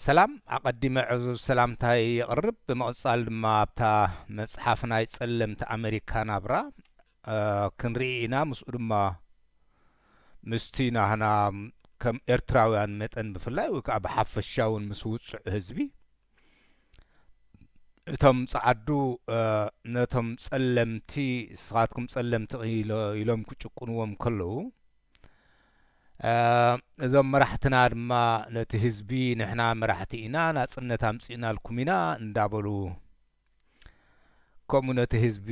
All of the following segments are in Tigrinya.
ሰላም ኣቀዲመ ዕዙዝ ሰላምታይ የቅርብ ብምቅጻል ድማ ኣብታ መጽሓፍ ናይ ጸለምቲ ኣመሪካ ናብራ ክንርኢ ኢና ምስኡ ድማ ምስቲ ናህና ከም ኤርትራውያን መጠን ብፍላይ ወይ ከዓ ብሓፈሻ እውን ምስ ውጹዕ ህዝቢ እቶም ጸዓዱ ነቶም ጸለምቲ ንስኻትኩም ጸለምቲ ኢሎም ክጭቁንዎም ከለዉ እዞም መራሕትና ድማ ነቲ ህዝቢ ንሕና መራሕቲ ኢና ናጽነት ኣምጺእናልኩም ኢና እንዳበሉ ከምኡ ነቲ ህዝቢ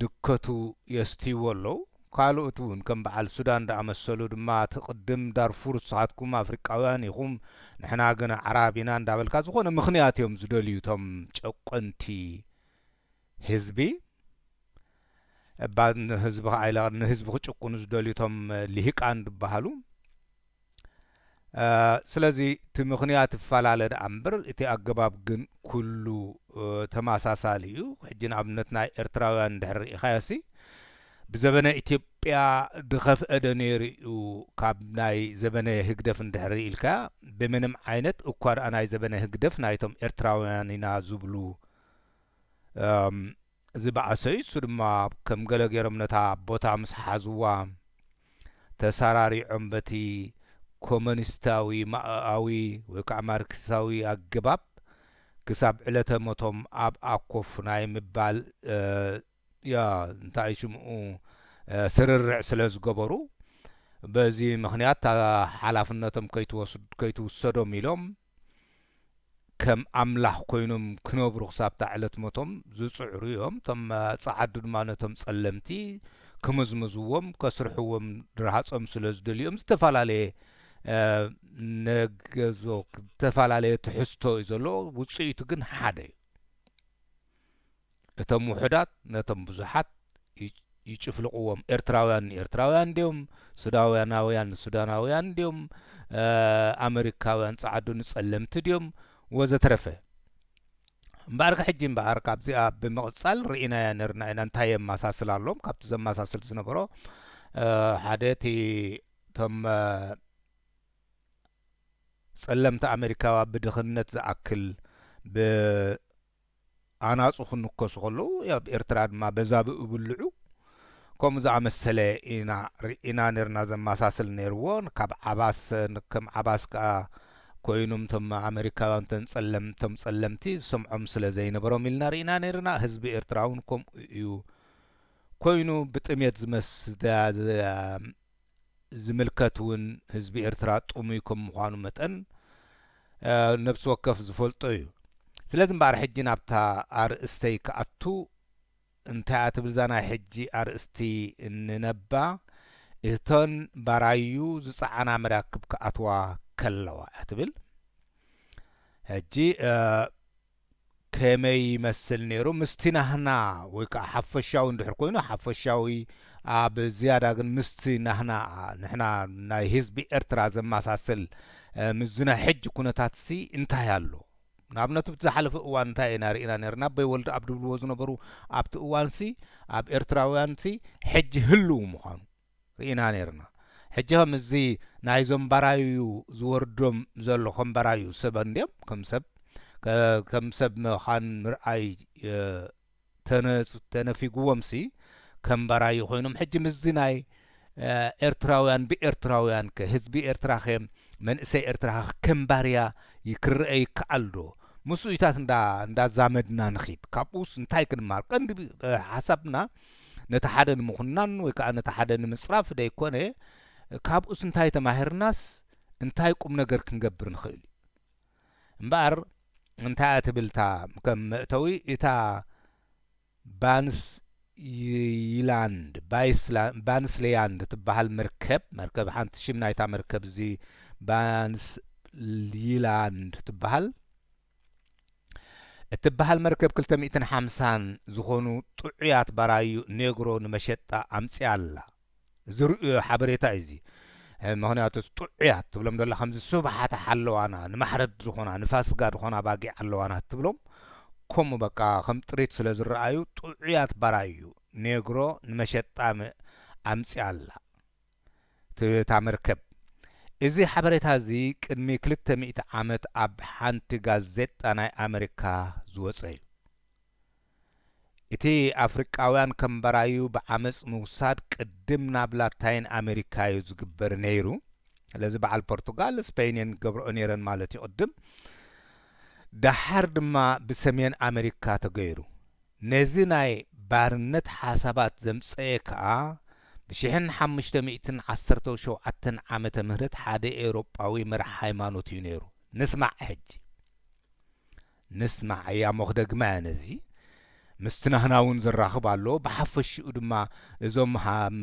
ድከቱ የስትይዎ ኣለዉ ካልኦት እውን ከም በዓል ሱዳን ዝኣመሰሉ ድማ እቲ ቅድም ዳርፉር ንስኻትኩም ኣፍሪቃውያን ኢኹም ንሕና ግን ኣዕራብ ኢና እንዳበልካ ዝኾነ ምኽንያት እዮም ዝደልዩ እቶም ጨቆንቲ ህዝቢ እባ ንህዝቢ ከኣ ኢለ ንህዝቢ ክጭቁኑ ዝደልዩ እቶም ሊሂቃን ዝበሃሉ ስለዚ እቲ ምክንያት ይፈላለ ደኣ እምበር እቲ ኣገባብ ግን ኩሉ ተመሳሳሊ እዩ ሕጂ ንኣብነት ናይ ኤርትራውያን እንድሕር ርኢኻዮሲ ብዘበነ ኢትዮጵያ ድኸፍአ ዶ ነይሩ እዩ ካብ ናይ ዘበነ ህግደፍ እንድሕሪ ኢልካያ ብምንም ዓይነት እኳ ደኣ ናይ ዘበነ ህግደፍ ናይቶም ኤርትራውያን ኢና ዝብሉ ዝበኣሰ እዩ። እሱ ድማ ከም ገለ ገይሮም ነታ ቦታ ምስ ሓዝዋ ተሳራሪዖም በቲ ኮመኒስታዊ ማኦኣዊ ወይ ከዓ ማርክሳዊ ኣገባብ ክሳብ ዕለተ ሞቶም ኣብኣ ኮፍ ናይ ምባል እንታይ ሽምኡ ስርርዕ ስለ ዝገበሩ በዚ ምኽንያት እታ ሓላፍነቶም ከይትውሰዶም ኢሎም ከም ኣምላኽ ኮይኖም ክነብሩ ክሳብታ ዕለት ሞቶም ዝጽዕሩ እዮም። እቶም ጸዓዱ ድማ ነቶም ጸለምቲ ክምዝምዝዎም ከስርሕዎም ርሃጾም ስለ ዝደልዩዮም ዝተፈላለየ ነገዞ ዝተፈላለየ ትሕዝቶ እዩ ዘለዎ ውጽኢቱ ግን ሓደ እዩ። እቶም ውሑዳት ነቶም ብዙሓት ይጭፍልቕዎም ኤርትራውያን ንኤርትራውያን ድዮም ሱዳውያናውያን ንሱዳናውያን ድዮም ኣመሪካውያን ጻዓዱ ንጸለምቲ ድዮም ወዘተረፈ እምበኣርከ ሕጂ እምበኣር ካብዚኣ ብምቕጻል ርኢናያ ነርና ኢና እንታይ የመሳስል ኣሎም ካብቲ ዘመሳስል ዝነበሮ ሓደ እቲ እቶም ጸለምቲ ኣሜሪካዋ ብድኽነት ዝኣክል ኣናጹ ክንከሱ ከለዉ ኣብ ኤርትራ ድማ በዛ ብእብልዑ ከምኡ ዝኣመሰለ ኢና ርኢና ኔርና ዘማሳስል ኔርዎ ካብ ዓባስ ከም ዓባስ ከኣ ኮይኑም ቶም ኣመሪካውያን ተን ጸለም ቶም ጸለምቲ ዝሰምዖም ስለ ዘይነበሮም ኢልና ርኢና ኔርና ህዝቢ ኤርትራውን ከምኡ እዩ ኮይኑ ብጥሜት ዝመስ ዝምልከት ውን ህዝቢ ኤርትራ ጥሙይ ከም ምዃኑ መጠን ነብሲ ወከፍ ዝፈልጦ እዩ። ስለዚ እምበኣር ሕጂ ናብታ ኣርእስተይ ክኣቱ፣ እንታይ እያ ትብል እዛ ናይ ሕጂ ኣርእስቲ እንነባ እተን ባራዩ ዝጸዓና መራክብ ክኣትዋ ከለዋ እያ ትብል። ሕጂ ከመይ ይመስል ነይሩ ምስቲ ናህና ወይ ከኣ ሓፈሻዊ እንድሕር ኮይኑ ሓፈሻዊ ኣብ ዝያዳ ግን ምስቲ ናህና ንሕና ናይ ህዝቢ ኤርትራ ዘማሳስል ምስዚ ናይ ሕጂ ኩነታትሲ እንታይ ኣሎ ንኣብነት ኣብቲ ዝሓለፈ እዋን እንታይ ኢና ርኢና ነርና ኣቦይ ወልደኣብ ድብልዎ ዝነበሩ ኣብቲ እዋንሲ ኣብ ኤርትራውያንሲ ሕጂ ህልው ምዃኑ ርኢና ኔርና ሕጂ ከ ምስዚ ናይ ዞም ባራዩ ዝወርዶም ዘሎ ከም ባራዩ ሰብ ኣንድዮም ከም ሰብ ከም ሰብ ምካን ምርኣይ ተነፊግዎም ሲ ከም ባራዩ ኮይኖም ሕጂ ምስዚ ናይ ኤርትራውያን ብኤርትራውያን ከ ህዝቢ ኤርትራ ከ መንእሰይ ኤርትራ ከ ከም ባርያ ክርኣ ይከኣል ዶ ምስኡታት እንዳ ዛመድና ንኪድ ካብኡስ እንታይ ክንማሃር ቀንዲ ሓሳብና ነቲ ሓደ ንምኹናን ወይ ከኣ ነቲ ሓደ ንምጽራፍ ደይኮነ፣ ካብኡስ እንታይ ተማሂርናስ እንታይ ቁምነገር ክንገብር ንኽእል እዩ። እምበኣር እንታይ እያ ትብል እታ ከም መእተዊ እታ ባንስ ይላንድ ባንስሌያንድ ትበሃል መርከብ መርከብ ሓንቲ ሽም ናይታ መርከብ እዚ ባንስ ይላንድ ትበሃል እትበሃል መርከብ ክልተ ሚእትን ሓምሳን ዝኾኑ ጥዑያት ባራዩ ኔግሮ ንመሸጣ ኣምጺኣ ኣላ። ዝርእዮ ሓበሬታ እዩ እዚ። ምኽንያቱ ጥዑያት ትብሎም ዘላ ከምዚ ስብሓት ሓለዋና ንማሕረድ ዝኾና ንፋስጋ ዝኾና ኣባጊዕ ኣለዋና እትብሎም ከምኡ በቃ ከም ጥሪት ስለ ዝረኣዩ ጥዑያት ባራዩ ኔግሮ ንመሸጣ ኣምጺኣ ኣላ። ትብታ መርከብ። እዚ ሓበሬታ እዚ ቅድሚ ክልተ ሚእቲ ዓመት ኣብ ሓንቲ ጋዜጣ ናይ ኣመሪካ ዝወጸ እዩ። እቲ ኣፍሪቃውያን ከም ባራዩ ብዓመጽ ምውሳድ ቅድም ናብ ላታይን ኣመሪካ እዩ ዝግበር ነይሩ። ስለዚ በዓል ፖርቱጋል ስፐይን እየን ገብረኦ ነይረን ማለት እዩ ቅድም። ደሓር ድማ ብሰሜን ኣመሪካ ተገይሩ። ነዚ ናይ ባርነት ሓሳባት ዘምጸኤ ከኣ ብሽሕን ሓሙሽተ ሚእትን ዓሰርተው ሸውዓተን ዓመተ ምህረት ሓደ ኤውሮጳዊ መራሕ ሃይማኖት እዩ ነይሩ። ንስማዕ ሕጂ። ንስማዕ እያሞ ክደግማ እያ ነዚ ምስቲ ናህና እውን ዘራኽብ ኣሎ ብሓፈሽኡ ድማ እዞም ሃም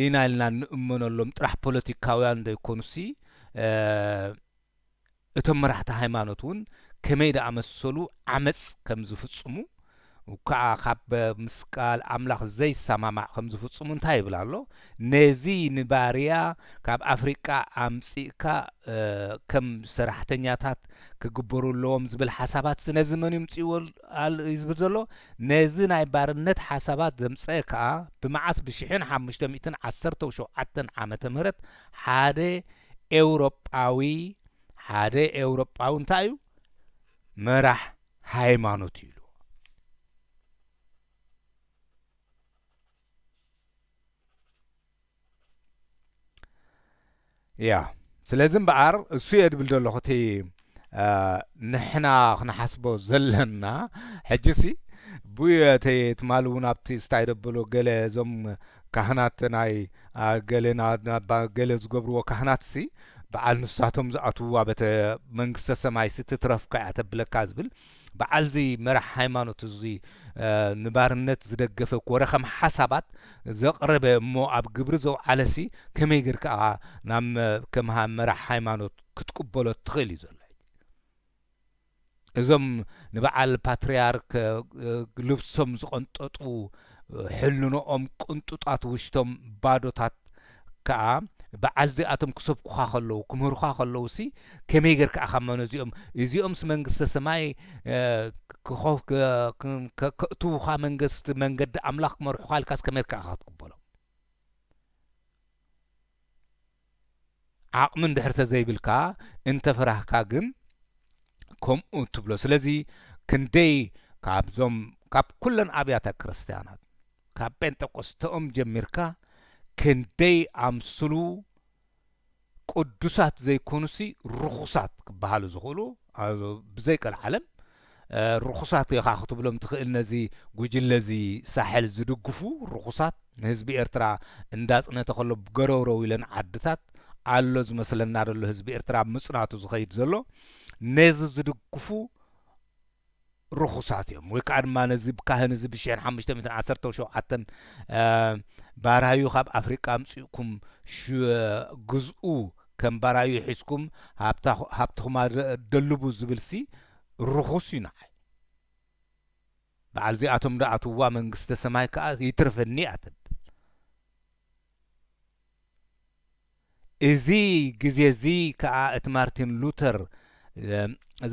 ኢና ኢልና እንእመነሎም ጥራሕ ፖለቲካውያን ዘይኮኑሲ እቶም መራሕቲ ሃይማኖት እውን ከመይ ዝኣመሰሉ ዓመጽ ከም ዝፍጽሙ እኳ ካብ ምስ ቃል ኣምላኽ ዘይሰማማዕ ከም ዝፍጽሙ እንታይ ይብል ኣሎ ነዚ ንባርያ ካብ ኣፍሪቃ ኣምጺእካ ከም ሰራሕተኛታት ክግበሩ ኣለዎም ዝብል ሓሳባትሲ ነዚ መን እዩ ምጽእዎ እዩ ዝብል ዘሎ ነዚ ናይ ባርነት ሓሳባት ዘምጸ ከኣ ብመዓስ ብሽሕን ሓሙሽተ ሚእትን ዓሰርተው ሸውዓተን ዓመተ ምህረት ሓደ ኤውሮጳዊ ሓደ ኤውሮጳዊ እንታይ እዩ መራሕ ሃይማኖት እዩ ኢልዎ። ያ ስለዚ እምበኣር እሱ እየ ድብል ዘለኹ እቲ ንሕና ክንሓስቦ ዘለና ሕጂሲ ቡየ ተየ ትማሊ እውን ኣብቲ ስታይ ደበሎ ገለ እዞም ካህናት ናይ ገለ ዝገብርዎ ካህናትሲ በዓል ንሳቶም ዝኣትውዋ በተ መንግስተ ሰማይ ስትትረፍካ እያ ተብለካ ዝብል በዓል እዚ መራሕ ሃይማኖት እዚ ንባርነት ዝደገፈ ኮረ ከም ሓሳባት ዘቕረበ እሞ ኣብ ግብሪ ዘውዓለሲ ከመይ ግር ከዓ ናብ ከም መራሕ ሃይማኖት ክትቅበሎ እትኽእል እዩ ዘሎ ሕጂ እዞም ንበዓል ፓትርያርክ ልብሶም ዝቐንጠጡ ሕልንኦም ቅንጡጣት ውሽቶም ባዶታት ከኣ በዓል እዚኣቶም ክሰብኩኻ ከለዉ ክምህሩኻ ከለዉሲ ከመይ ጌርካ ኢኻ እሞ ነዚኦም እዚኦምስ መንግስተ ሰማይ ከእትዉኻ መንገስቲ መንገዲ ኣምላኽ ክመርሑኻ ኢልካስ ከመይ ጌርካ ኢኻ ክትቅበሎም ዓቕሚ እንድሕር ተዘይብልካ እንተፈራህካ ግን ከምኡ ትብሎ ስለዚ ክንደይ ካብዞም ካብ ኩለን ኣብያተ ክርስትያናት ካብ ጴንጠቆስተኦም ጀሚርካ ክንደይ ኣምስሉ ቅዱሳት ዘይኮኑሲ ርኹሳት ክበሃሉ ዝኽእሉ ብዘይ ቀልዓለም ርኹሳት ኢኻ ክትብሎም ትኽእል ነዚ ጉጅለ እዚ ሳሕል ዝድግፉ ርኹሳት ንህዝቢ ኤርትራ እንዳጽነተ ከሎ ገረውረው ኢለን ዓድታት ኣሎ ዝመስለና ዘሎ ህዝቢ ኤርትራ ኣብ ምጽናቱ ዝኸይድ ዘሎ ነዚ ዝድግፉ ርኹሳት እዮም ወይ ከኣ ድማ ነዚ ካህን እዚ ብ ሽሕን ሓሙሽተ ሚእትን ዓሰርተው ሸውዓተን ባራዩ ካብ ኣፍሪቃ ኣምጺእኩም ግዝኡ ከም ባራዩ ሒዝኩም ሃብትኹም ኣደልቡ ዝብልሲ ርኹስ እዩ ንዓይ በዓል እዚኣቶም ዶ ኣትውዋ መንግስተ ሰማይ ከኣ ይትረፈኒ እያ ተብል እዚ ግዜ እዚ ከኣ እቲ ማርቲን ሉተር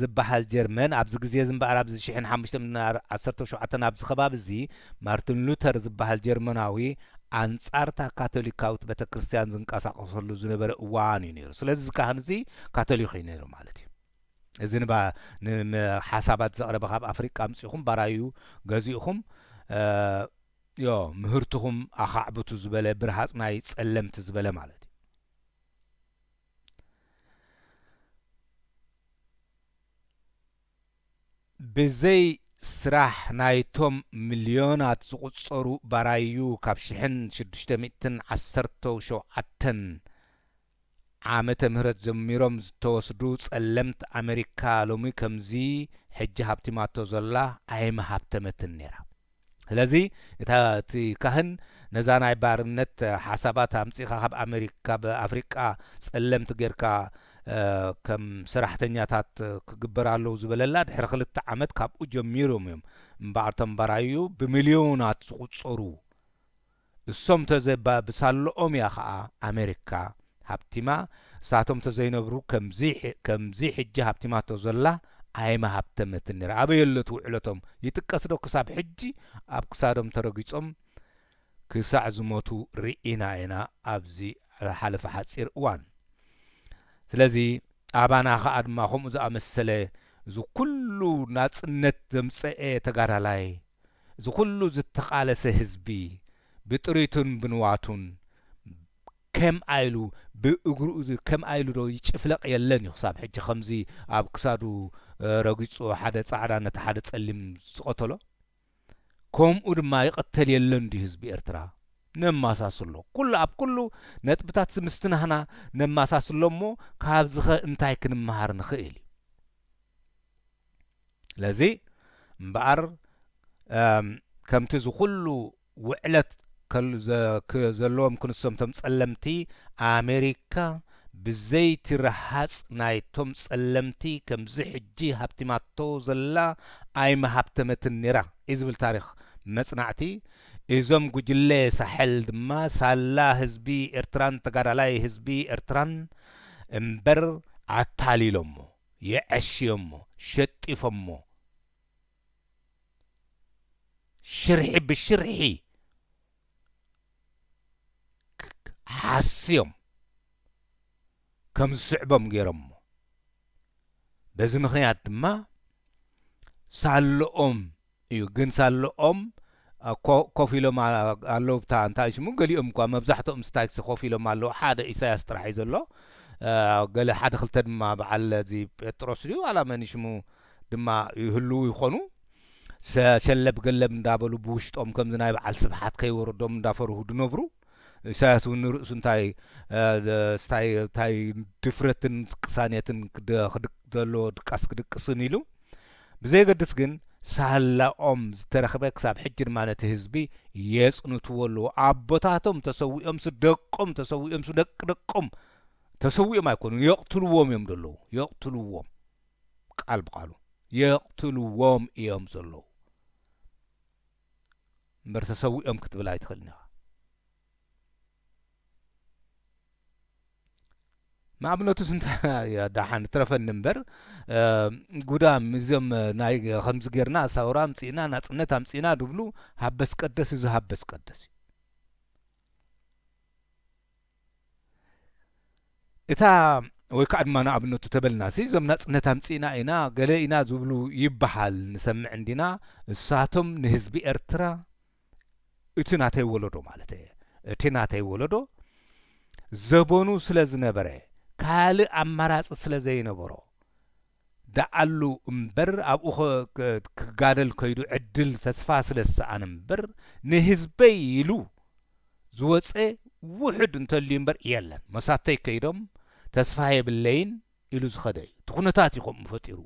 ዝብሃል ጀርመን ኣብዚ ግዜ እዚ እምበኣር ኣብዚ ሽሕን ሓሙሽተን ዓሰርተው ሸውዓተን ኣብዚ ከባቢ እዚ ማርቲን ሉተር ዝብሃል ጀርመናዊ ኣንጻር እታ ካቶሊካዊት ቤተ ክርስቲያን ዝንቀሳቐሰሉ ዝነበረ እዋን እዩ ነይሩ። ስለዚ እዚ ካህን እዚ ካቶሊክ እዩ ነይሩ ማለት እዩ። እዚ ንባ ንሓሳባት ዘቕረበ ካብ ኣፍሪቃ ኣምጺኹም ባራዩ ገዚእኹም ዮ ምህርትኹም ኣኻዕብቱ ዝበለ ብርሃጽ ናይ ጸለምቲ ዝበለ ማለት እዩ። ብዘይ ስራሕ ናይቶም ምልዮናት ዝቑጸሩ ባራዩ ካብ ሽሕን ሽዱሽተ ሚእትን ዓሰርተው ሸውዓተን ዓመተ ምህረት ጀሚሮም ዝተወስዱ ጸለምት ኣመሪካ ሎሚ ከምዚ ሕጂ ሃብቲማቶ ዘላ ኣይምሃብተመትን ኔራ ስለዚ እታ እቲ ካህን ነዛ ናይ ባርነት ሓሳባት ኣምጺኻ ካብ ኣመሪካ ካብ ኣፍሪቃ ጸለምት ጌርካ ከም ሰራሕተኛታት ክግበር ኣለው ዝበለላ ድሕሪ ክልተ ዓመት ካብኡ ጀሚሮም እዮም እምበኣር እቶም ባራዩ ብምልዮናት ዝቁጸሩ እሶም ተዘይባ ብሳሎኦም እያ ከኣ ኣመሪካ ሃብቲማ እሳቶም ተዘይነብሩ ከምዚ ከምዚ ሕጂ ሃብቲማቶ ዘላ ኣይምሃብተመትን ነራ ኣበየሎ እቲ ውዕለቶም ይጥቀስ ዶ ክሳብ ሕጂ ኣብ ክሳዶም ተረጊጾም ክሳዕ ዝሞቱ ሪኢና ኢና ኣብዚ ዝሓለፈ ሓጺር እዋን ስለዚ ኣባና ከኣ ድማ ከምኡ ዝኣመሰለ እዚ ኩሉ ናጽነት ዘምጸኤ ተጋዳላይ እዚ ኩሉ ዝተቃለሰ ህዝቢ ብጥሪቱን ብንዋቱን ከምኣ ኢሉ ብእግሩ ከምኣ ኢሉ ዶ ይጭፍለቅ የለን ዩ ክሳብ ሕጂ ከምዚ ኣብ ክሳዱ ረጊጹ ሓደ ጻዕዳ ነቲ ሓደ ጸሊም ዝቀተሎ ከምኡ ድማ ይቅተል የለን ድዩ ህዝቢ ኤርትራ ነማሳስሎ ኩሉ ኣብ ኩሉ ነጥብታትሲ ምስቲ ናህና ነማሳስሎ እሞ ካብዚኸ እንታይ ክንማሃር ንኽእል ዩ ስለዚ እምበኣር ከምቲ እዚ ኩሉ ውዕለት ዘለዎም ክንሶም እቶም ጸለምቲ ኣሜሪካ ብዘይቲ ረሃጽ ናይቶም ጸለምቲ ከምዚ ሕጂ ሃብቲማቶ ዘላ ኣይምሃብተመትን ኔራ እዩ ዝብል ታሪኽ መጽናዕቲ እዞም ጉጅለ ሳሕል ድማ ሳላ ህዝቢ ኤርትራን ተጋዳላይ ህዝቢ ኤርትራን እምበር ኣታሊሎሞ የዐሽዮሞ ሸጢፎሞ ሽርሒ ብሽርሒ ሓስዮም ከምዝስዕቦም ገይሮሞ በዚ ምኽንያት ድማ ሳሎኦም እዩ ግን ሳልኦም ኮ ኮፍ ኢሎም ኣለዉ ብታ እንታይ ሽሙ ገሊኦም እኳ መብዛሕትኦም ስታይክስ ኮፍ ኢሎም ኣለዉ ሓደ ኢሳያስ ጥራሕ እዩ ዘሎ ገለ ሓደ ክልተ ድማ በዓል እዚ ጴጥሮስ ድዩ ዋላ መን ሽሙ ድማ ይህልዉ ይኾኑ ሰ ሸለብ ገለብ እንዳበሉ ብውሽጦም ከምዚ ናይ በዓል ስብሓት ከይወረዶም እንዳፈርሁ ድነብሩ ኢሳያስ እውን ንርእሱ እንታይ ስታይ ታይ ድፍረትን ቅሳኔትን ዘለዎ ድቃስ ክድቅስን ኢሉ ብዘየገድስ ግን ሳላኦም ዝተረኽበ ክሳብ ሕጂ ድማ ነቲ ህዝቢ የጽንትዎ ኣለዉ። ኣቦታቶም ተሰዊኦምሲ ደቆም ተሰዊኦምሲ ደቂ ደቆም ተሰዊኦም ኣይኮኑን የቕትልዎም እዮም ዘለዉ የቕትልዎም ቃል ብቃሉ የቕትልዎም እዮም ዘለዉ። እምበር ተሰዊኦም ክትብል ኣይትኽእልን ኢኻ። ንኣብነቱስ እንታይ ደሓን ትረፈኒ እምበር ጉዳም እዞም ናይ ከምዚ ጌርና ሳውራ ኣምጺእና ናጽነት ኣምጺእና ዝብሉ ሃበስ ቀደስ እዚ ሃበስ ቀደስ እዩ። እታ ወይ ከዓ ድማ ንኣብነቱ ተበልናሲ እዞም ናፅነት ኣምፂእና ኢና ገለ ኢና ዝብሉ ይበሃል ንሰምዕ እንዲና እሳቶም ንህዝቢ ኤርትራ እቲ ናተይ ወለዶ ማለት እየ እቲ ናተይ ወለዶ ዘበኑ ስለ ዝነበረ ካልእ ኣማራፂ ስለ ዘይነበሮ ደኣሉ እምበር ኣብኡ ክጋደል ከይዱ ዕድል ተስፋ ስለ ዝሰኣነ እምበር ንህዝበይ ኢሉ ዝወጸ ውሑድ እንተልዩ እምበር የለን መሳተይ ከይዶም ተስፋ የብለይን ኢሉ ዝኸደ እዩ እቲ ኩነታት እዩ ከምኡ ፈጢርዎ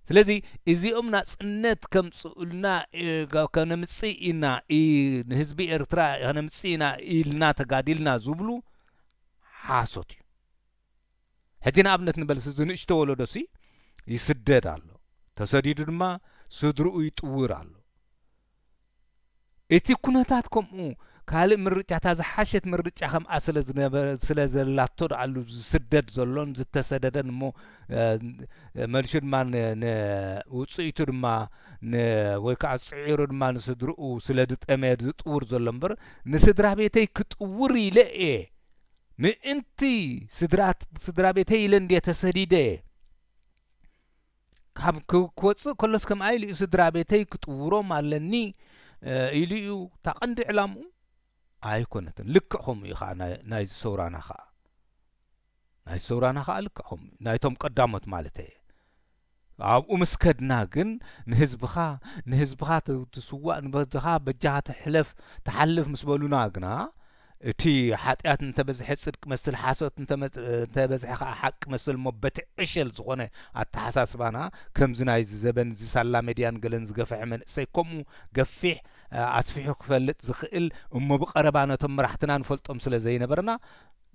ስለዚ እዚኦም ናጽነት ከምጽኡልና ከነምጽእ ኢና ንህዝቢ ኤርትራ ከነምጽእ ኢና ኢልና ተጋዲልና ዝብሉ ሓሶት እዩ ሕጂ ንኣብነት ንበልሲ እዚ ንእሽቶ ወለዶሲ ይስደድ ኣሎ ተሰዲዱ ድማ ስድርኡ ይጥውር ኣሎ እቲ ኩነታት ከምኡ ካልእ ምርጫ እታ ዝሓሸት ምርጫ ከምኣ ስለ ዘላቶ ድኣሉ ዝስደድ ዘሎን ዝተሰደደን እሞ መልሹ ድማ ንውፅኢቱ ድማ ወይ ከዓ ፅዒሩ ድማ ንስድርኡ ስለ ዝጠመየ ዝጥውር ዘሎ እምበር ንስድራ ቤተይ ክጥውር ኢለ እየ ምእንቲ ስድራቤተይ ኢለ እንድየ ተሰዲደ። ካብ ክወጽእ ከሎስ ከምኣ ኢሉ እዩ ስድራቤተይ ክጥውሮም ኣለኒ ኢሉ እዩ እታ ቀንዲ ዕላምኡ ኣይኮነትን። ልክዕ ከምኡ እዩ ከዓ ናይዚ ሰውራና ከዓ ናይዚ ሰውራና ከዓ ልክዕ ከምኡ ናይቶም ቀዳሞት ማለት እየ ኣብኡ ምስ ከድና ግን ንህዝብኻ ንህዝብኻ ትስዋእ ንበዝኻ በጃኻ ትሕለፍ ትሓልፍ ምስ በሉና ግና እቲ ሓጢኣት እንተ በዝሐ ጽድቂ መስል ሓሶት እንተ በዝሐ ከኣ ሓቂ መስል እሞ በቲ ዕሸል ዝኾነ ኣተሓሳስባና ከምዚ ናይዚ ዘበን እዚ ሳላ መድያን ገለን ዝገፈሐ መንእሰይ ከምኡ ገፊሕ ኣስፊሑ ክፈልጥ ዝኽእል እሞ ብቀረባ ነቶም መራሕትና ንፈልጦም ስለ ዘይነበርና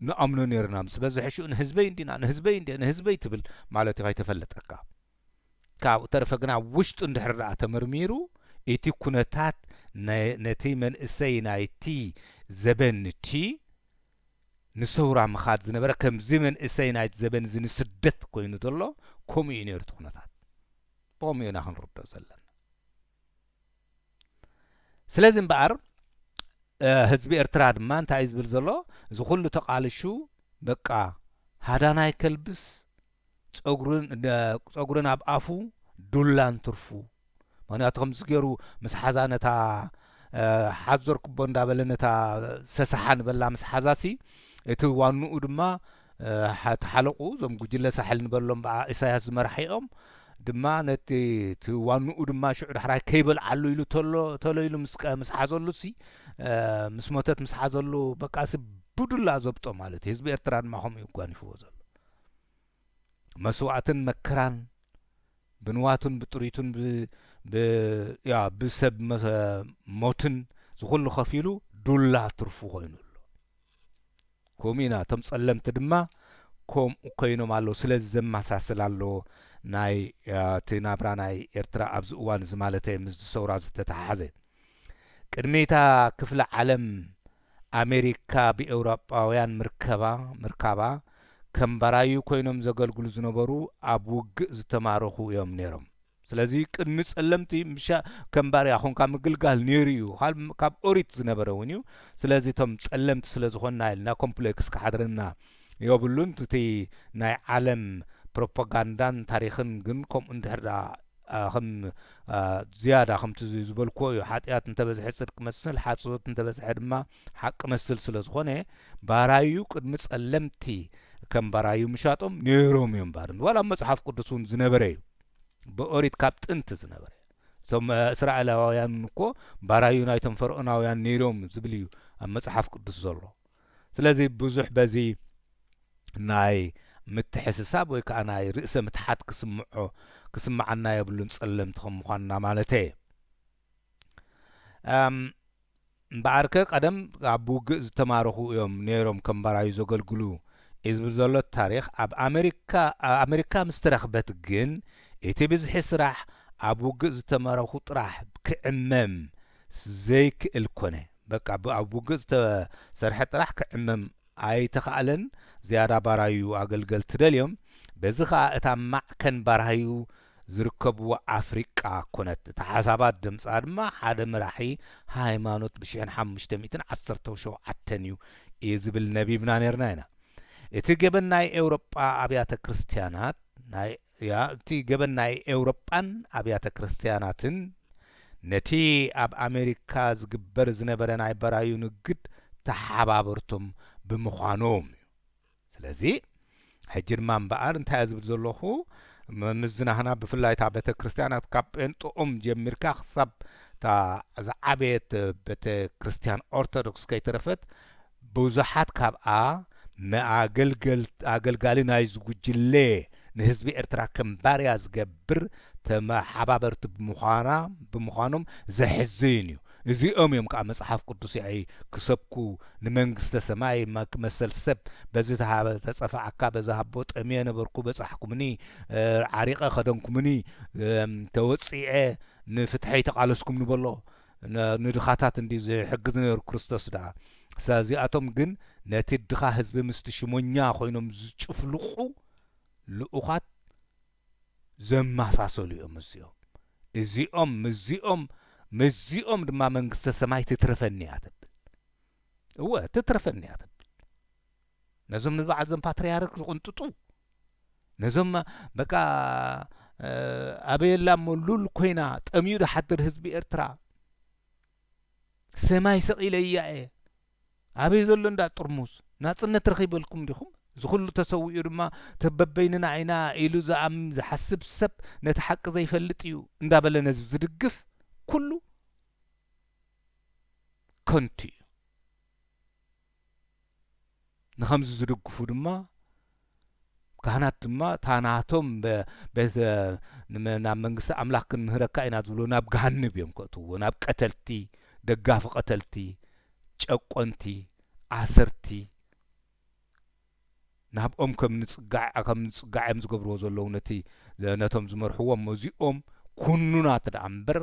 ንኣምኖ ኔርና ምስ በዝሐ ሽኡ ንህዝበይ እንዲና ንህዝበይ እንድየ ንህዝበይ ትብል ማለት ከይተፈለጠካ ካብኡ ተረፈ ግን ኣብ ውሽጡ እንድሕር ደኣ ተመርሚሩ እቲ ኩነታት ነቲ መንእሰይ ናይቲ ዘበን እቲ ንሰውራ ምኻድ ዝነበረ ከምዚ መንእሰይ ናይቲ ዘበን እዚ ንስደት ኮይኑ ዘሎ ከምኡ እዩ ኔሩ እቲ ኩነታት ብኸምኡ ኢና ክንርድኦ ዘለና። ስለዚ እምበኣር ህዝቢ ኤርትራ ድማ እንታይ እዩ ዝብል ዘሎ እዚ ኩሉ ተቃልሹ በቃ ሃዳናይ ከልብስ ፀጉርን ኣብ ኣፉ ዱላን ትርፉ ምክንያቱ ከምዚ ገይሩ ምስ ሓዛ ነታ ሓዞር ክቦ እንዳበለ ነታ ሰሰሓ ንበላ ምስ ሓዛሲ እቲ ዋንኡ ድማ እቲ ሓለቕኡ እዞም ጉጅለ ሳሕል ንበሎም ብኣ ኢሳያስ ዝመራሒኦም ድማ ነቲ እቲ ዋንኡ ድማ ሽዑ ዳሕራይ ከይበልዓሉ ኢሉ ተሎ ተሎ ኢሉ ምስ ቀ- ምስ ሓዘሉ ሲ እ፣ ምስ ሞተት ምስ ሓዘሉ በቃሲ ብዱላ ዘብጦ ማለት እዩ። ህዝቢ ኤርትራ ድማ ከምኡ እዩ ጓኒፍዎ ዘሎ መስዋእትን መከራን ብንዋቱን ብጥሪቱን ብ ብ ያ ብሰብ መ- ሞትን ዝኹሉ ከፊሉ ዱላ ትርፉ ኮይኑ ኣሎ። ኮምኡ ኢና እቶም ጸለምቲ ድማ ኮምኡ ኮይኖም ኣለዉ ስለዚ ዘማሳስል ኣሎ ናይ እቲ ናብራ ናይ ኤርትራ ኣብዚ እዋን እዚ ማለተይ ምስዚ ሰውራ ዝተተሓሓዘ ቅድሚ እታ ክፍለ ዓለም ኣሜሪካ ብኤውሮጳውያን ምርከባ ምርካባ ከም ባራዩ ኮይኖም ዘገልግሉ ዝነበሩ ኣብ ውግእ ዝተማረኹ እዮም ኔሮም ስለዚ ቅድሚ ጸለምቲ ምሻ ከም ባርያ ኾንካ ምግልጋል ነይሩ እዩ ካብ ኦሪት ዝነበረ እውን እዩ ስለዚ እቶም ጸለምቲ ስለ ዝኾንና ኢልና ኮምፕሌክስ ክሓድረና የብሉን እቲ ናይ ዓለም ፕሮፓጋንዳን ታሪኽን ግን ከምኡ እንድሕር ከም ዝያዳ ከምቲ ዝበልክዎ እዩ ሓጢኣት እንተበዝሐ ፅድቂ መስል ሓፅወት እንተበዝሐ ድማ ሓቂ መስል ስለ ዝኾነ ባራዩ ቅድሚ ፀለምቲ ከም ባራዩ ምሻጦም ነይሮም እዮም ባር ዋላ መፅሓፍ ቅዱስ እውን ዝነበረ እዩ ብኦሪት ካብ ጥንቲ ዝነበረ እዩ። እቶም እስራኤላውያን እኮ ባራዩ ናይቶም ፈርኦናውያን ነይሮም ዝብል እዩ ኣብ መጽሓፍ ቅዱስ ዘሎ። ስለዚ ብዙሕ በዚ ናይ ምትሕስሳብ ወይ ከዓ ናይ ርእሰ ምትሓት ክስምዖ ክስምዓና የብሉን ጸለምቲ ከም ምዃንና ማለተየ። እምበኣርከ ቀደም ኣብ ውግእ ዝተማረኹ እዮም ነይሮም ከም ባራዩ ዘገልግሉ እዩ ዝብል ዘሎ ታሪኽ ኣብ ኣመሪካ ምስ ተረኽበት ግን እቲ ብዝሒ ስራሕ ኣብ ውግእ ዝተመረኹ ጥራሕ ክዕመም ዘይክእል ኮነ በቃ ኣብ ውግእ ዝተሰርሐ ጥራሕ ክዕመም ኣይተኻእለን ዝያዳ ባራዩ ኣገልገልቲ ደልዮም በዚ ኸኣ እታ ማዕከን ባራዩ ዝርከብዎ ኣፍሪቃ ኮነት። እታ ሓሳባት ድምጻ ድማ ሓደ መራሒ ሃይማኖት ብ ሽሕን ሓሙሽተ ሚእትን ዓሰርተው ሸውዓተን እዩ እዩ ዝብል ነቢብና ነርና ኢና። እቲ ገበን ናይ ኤውሮጳ ኣብያተ ክርስትያናት ናይ ያ እቲ ገበን ናይ ኤውሮጳን ኣብያተ ክርስትያናትን ነቲ ኣብ ኣሜሪካ ዝግበር ዝነበረ ናይ በራዩ ንግድ ተሓባበርቶም ብምዃኖም እዩ። ስለዚ ሕጂ ድማ እምበኣር እንታይ እየ ዝብል ዘለኹ፣ ምምዝናህና ብፍላይ እታ ቤተ ክርስቲያናት ካብ ጴንጠኦም ጀሚርካ ክሳብ እታ ዝዓበየት ቤተ ክርስቲያን ኦርቶዶክስ ከይተረፈት ብዙሓት ካብኣ ንኣገልጋሊ ናይዚ ጉጅለ ንህዝቢ ኤርትራ ከም ባርያ ዝገብር ተመሓባበርቲ ብምዃና ብምዃኖም ዘሕዝን እዩ። እዚኦም እዮም ከኣ መጽሓፍ ቅዱስይ ክሰብኩ ንመንግስተ ሰማይ መሰል ሰብ በዚ ተሃበ ተጸፈዓካ በዚ ሃቦ ጠምየ ነበርኩ በጻሕኩምኒ ዓሪቀ ከደንኩምኒ ተወጺዐ ንፍትሐይ ተቃለስኩምኒ በሎ ንድኻታት እንድዩ ዝሕግዝ ነሩ ክርስቶስ ደኣ ሳዚኣቶም ግን ነቲ ድኻ ህዝቢ ምስቲ ሽሞኛ ኮይኖም ዝጭፍልቁ ልኡኻት ዘማሳሰሉ እዮም እዚኦም እዚኦም ምስዚኦም ምስዚኦም ድማ መንግስተ ሰማይ ትትረፈኒ እያ ትብል እወ ትትረፈኒ እያ ትብል ነዞም ንበዓል ዞም ፓትርያርክ ዝቕንጥጡ ነዞም በቃ ኣበየላ እሞ ሉል ኮይና ጠምዩ ዝሓድር ህዝቢ ኤርትራ ሰማይ ሰቒለያ እየ ኣበይ ዘሎ እንዳ ጥርሙዝ ናጽነት ረኺበ እልኩም ዲኹም? እዚ ኩሉ ተሰዊኡ ድማ እቲ በበይንና ኢና ኢሉ ዝኣምን ዝሓስብ ሰብ ነቲ ሓቂ ዘይፈልጥ እዩ እንዳበለ ነዚ ዝድግፍ ኩሉ ከንቱ እዩ። ንኸምዚ ዝድግፉ ድማ ካህናት ድማ እታ ናቶም ቤተ ናብ መንግስቲ ኣምላኽ ክንምህረካ ኢና ዝብሉ ናብ ገሃንብ እዮም ከእትውዎ ናብ ቀተልቲ ደጋፊ ቀተልቲ ጨቆንቲ ኣሰርቲ ናብኦም ከም ንጽጋዕ ከም ንጽጋዕ እዮም ዝገብርዎ ዘለዉ ነቲ ነቶም ዝመርሕዎም መዚኦም ኩኑናት ደኣ እምበር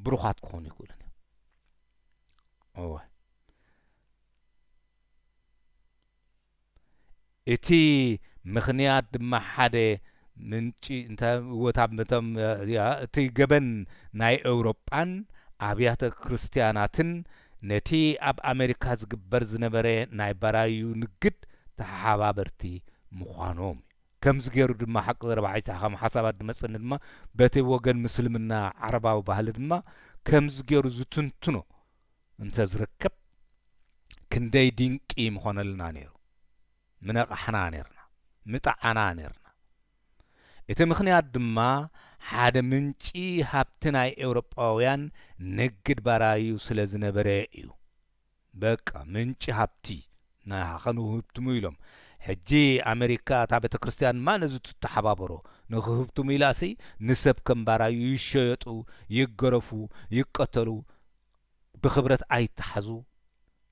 ብሩኻት ክኾኑ ይኽእሉን እዮም እወ እቲ ምኽንያት ድማ ሓደ ምንጪ እቲ ገበን ናይ ኤውሮጳን ኣብያተ ክርስትያናትን ነቲ ኣብ ኣመሪካ ዝግበር ዝነበረ ናይ ባራዩ ንግድ ተሓባበርቲ ምዃኖም እዩ። ከምዚ ገይሩ ድማ ሓቂ ዘረባ ዒሳ ከም ሓሳባት ዝመጸኒ ድማ በቲ ወገን ምስልምና ዓረባዊ ባህሊ ድማ ከምዚ ገይሩ ዝትንትኖ እንተ ዝርከብ ክንደይ ድንቂ ምኾነልና ነይሩ ምነቃሕና ነርና ምጠዓና ነርና እቲ ምኽንያት ድማ ሓደ ምንጪ ሃብቲ ናይ ኤውሮጳውያን ንግድ ባራዩ ስለ ዝነበረ እዩ በቃ ምንጪ ሃብቲ ናሃ ከንህብትሙ ኢሎም ሕጂ ኣመሪካ እታ ቤተክርስትያን ማን እዚ ትተሓባበሮ ንክህብትሙ ኢላሲ ንሰብ ከም ባራዩ ይሸየጡ ይገረፉ ይቀተሉ ብክብረት ኣይታሓዙ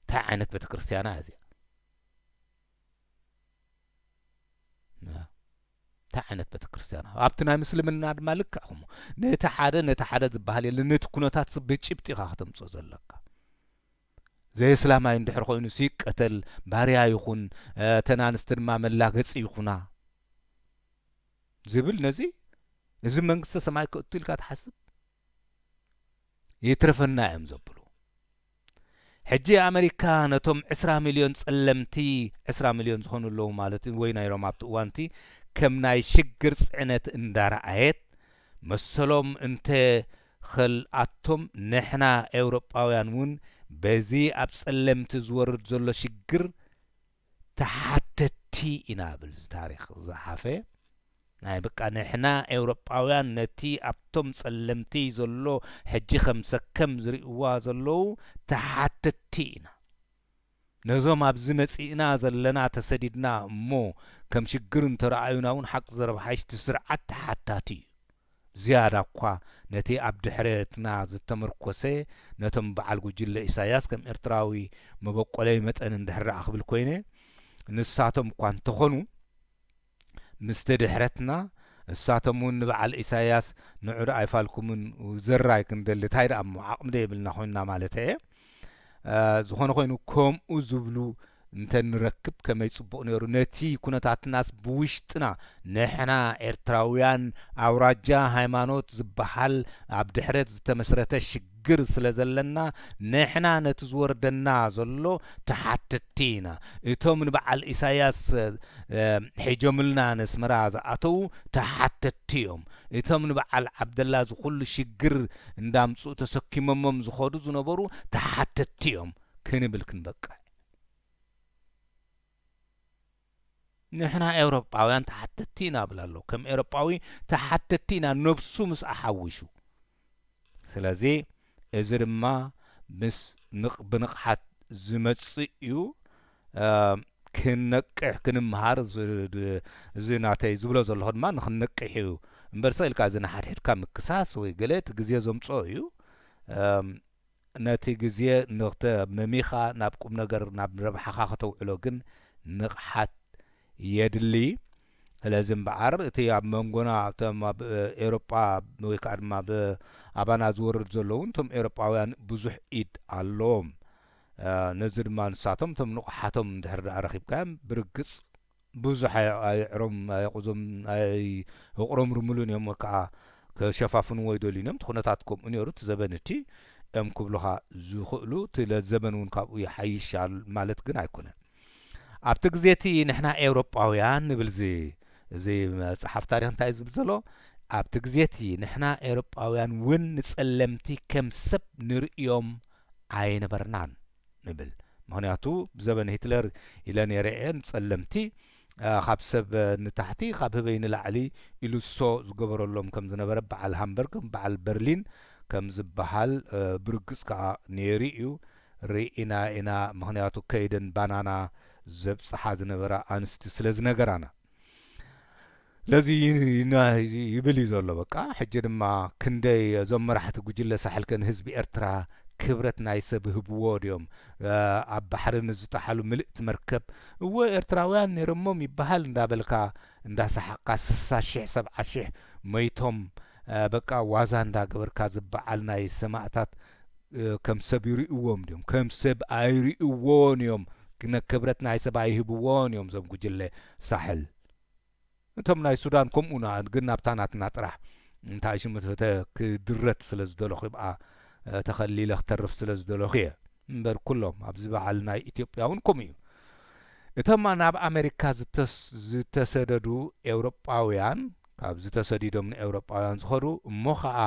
ታይ ዓይነት ቤተክርስትያና እያ እዚኣ ታይ ዓይነት ቤተክርስትያና ኣብቲ ናይ ምስልምና ድማ ልክዕ ከምኡ ነቲ ሓደ ነቲ ሓደ ዝበሃል የለን ነቲ ኩነታት ብጭብጢ ኢኻ ከተምፅኦ ዘለካ ዘየስላማይ እንድሕር ኮይኑ ሲቀተል ባርያ ይኹን እተን ኣንስቲ ድማ መላገፂ ይኹና ዝብል ነዚ እዚ መንግስተ ሰማይ ከእቱ ኢልካ ትሓስብ ይትርፍና እዮም ዘብሉ። ሕጂ ኣመሪካ ነቶም ዕስራ ሚልዮን ጸለምቲ ዕስራ ሚልዮን ዝኾኑ ኣለዉ ማለት እዩ ወይ ነይሮም ኣብቲ እዋንቲ ከም ናይ ሽግር ጽዕነት እንዳረኣየት መሰሎም እንተ ኸልኣቶም ንሕና ኤውሮጳውያን እውን በዚ ኣብ ጸለምቲ ዝወርድ ዘሎ ሽግር ተሓተቲ ኢና እብል እዚ ታሪኽ ዝጸሓፈ ናይ በቃ ንሕና ኤውሮጳውያን ነቲ ኣብቶም ጸለምቲ ዘሎ ሕጂ ከም ሰከም ዝሪእዋ ዘለዉ ተሓተቲ ኢና ነዞም ኣብዚ መጺእና ዘለና ተሰዲድና እሞ ከም ሽግር እንተረኣዩና ውን ሓቅ ዘረብሓይሽቲ ስርዓት ተሓታቲ እዩ ዝያዳኳ ነቲ ኣብ ድሕረትና ዝተመርኮሰ ነቶም በዓል ጉጅለ ኢሳያስ ከም ኤርትራዊ መበቆለይ መጠን እንድሕር ደኣ ክብል ኮይነ ንሳቶም እኳ እንተኾኑ ምስቲ ድሕረትና እሳቶም ውን ንበዓል ኢሳያስ ንዑ ደኣ ኣይፋልኩምን ዘራይ ክንደሊ ታይ ደኣ እሞ ዓቕሚ ደይብልና ኮይንና ማለተይ እየ ዝኾነ ኾይኑ ከምኡ ዝብሉ እንተ ንረክብ ከመይ ጽቡቕ ነይሩ ነቲ ኩነታትናስ ብውሽጥና ንሕና ኤርትራውያን ኣውራጃ ሃይማኖት ዝበሃል ኣብ ድሕረት ዝተመስረተ ሽግር ስለ ዘለና ንሕና ነቲ ዝወርደና ዘሎ ተሓተቲ ኢና እቶም ንበዓል ኢሳያስ ሒጆምልና ነስመራ ዝኣተዉ ተሓተቲ እዮም እቶም ንበዓል ዓብደላ ዝኹሉ ሽግር እንዳምጽኡ ተሰኪሞሞም ዝኸዱ ዝነበሩ ተሓተትቲ እዮም ክንብል ክንበቅዕ። ንሕና ኤውሮጳውያን ተሓተትቲ ኢና እብል ኣለኹ። ከም ኤውሮጳዊ ተሓተትቲ ኢና ነብሱ ምስ ኣሓዊሱ። ስለዚ እዚ ድማ ምስ ብንቕሓት ዝመጽእ እዩ። ክንነቅሕ ክንምሃር እዚ ናተይ ዝብሎ ዘለኹ ድማ ንኽንነቅሕ እዩ እምበር ስቕ ኢልካ እዚ ንሓድሕድካ ምክሳስ ወይ ገለ እቲ ግዜ ዘምጽኦ እዩ ነቲ ግዜ ንኽተ መሚኻ ናብ ቁም ነገር ናብ ረብሓኻ ከተውዕሎ ግን ንቕሓት የድሊ ስለዚ እምበኣር እቲ ኣብ መንጎና እቶም ኣብ ኤሮጳ ወይ ከዓ ድማ ኣባና ዝወርድ ዘለውን እቶም ኤሮጳውያን ብዙሕ ኢድ ኣለዎም ነዚ ድማ ንሳቶም እቶም ንቑሓቶም እንድሕር ደኣ ረኺብካዮም ብርግጽ ብዙሕ ኣይ- ኣየዕሮም ኣየቑዞም ኣየቕሮምርምሉን እዮም ወይ ከኣ ክሸፋፍንዎ ኣይደልዩን እዮም እቲ ኩነታት ከምኡ ነይሩ እቲ ዘበን እቲ እዮም ክብሉኻ ዝኽእሉ እቲ ለ- ዘበን እውን ካብኡ ይሓይሽ ኣል- ማለት ግን ኣይኮነን ኣብቲ ግዜ እቲ ንሕና ኤውሮጳውያን ንብል እዚ እዚ መጽሓፍ ታሪኽ እንታይ እዩ ዝብል ዘሎ ኣብቲ ግዜ እቲ ንሕና ኤውሮጳውያን እውን ንጸለምቲ ከም ሰብ ንርእዮም ኣይነበርናን ንብል ምክንያቱ ብዘበነ ሂትለር ኢለ ነይረ እየ ንጸለምቲ ካብ ሰብ ንታሕቲ ካብ ህበይ ንላዕሊ ኢሉ ሶ ዝገበረሎም ከም ዝነበረ በዓል ሃምበርግ በዓል በርሊን ከም ዝበሃል ብርግጽ ከኣ ነይሩ እዩ ርኢና ኢና ምክንያቱ ከይደን ባናና ዘብጽሓ ዝነበራ ኣንስቲ ስለ ዝነገራና ስለዚ ይብል እዩ ዘሎ በቃ ሕጂ ድማ ክንደይ እዞም መራሕቲ ጉጅለ ሳሕል ከ ንህዝቢ ኤርትራ ክብረት ናይ ሰብ ህብዎ ድዮም ኣብ ባሕሪ ንዝጠሓሉ ምልእቲ መርከብ እወ ኤርትራውያን ነይሮሞም ይበሃል እንዳበልካ እንዳሰሓቕካ ስሳ ሽሕ ሰብዓ ሽሕ መይቶም በቃ ዋዛ እንዳ ገበርካ እዚ በዓል ናይ ሰማእታት ከም ሰብ ይሪእዎም ድዮም ከም ሰብ ኣይሪእዎን እዮም ክነ ክብረት ናይ ሰብ ኣይህብዎን እዮም እዞም ጉጅለ ሳሕል እቶም ናይ ሱዳን ከምኡ ና ግን ናብታ ናትና ጥራሕ እንታይ ሽሙ ተተ ክድረት ስለ ዝደለኹ ይብኣ ተኸሊለ ክተርፍ ስለ ዝደለኹ እየ እምበር ኩሎም ኣብዚ በዓል ናይ ኢትዮጵያ እውን ከምኡ እዩ እቶም ናብ ኣሜሪካ ዝተሰደዱ ኤውሮጳውያን ካብዚ ተሰዲዶም ንኤውሮጳውያን ዝኸዱ እሞ ኸኣ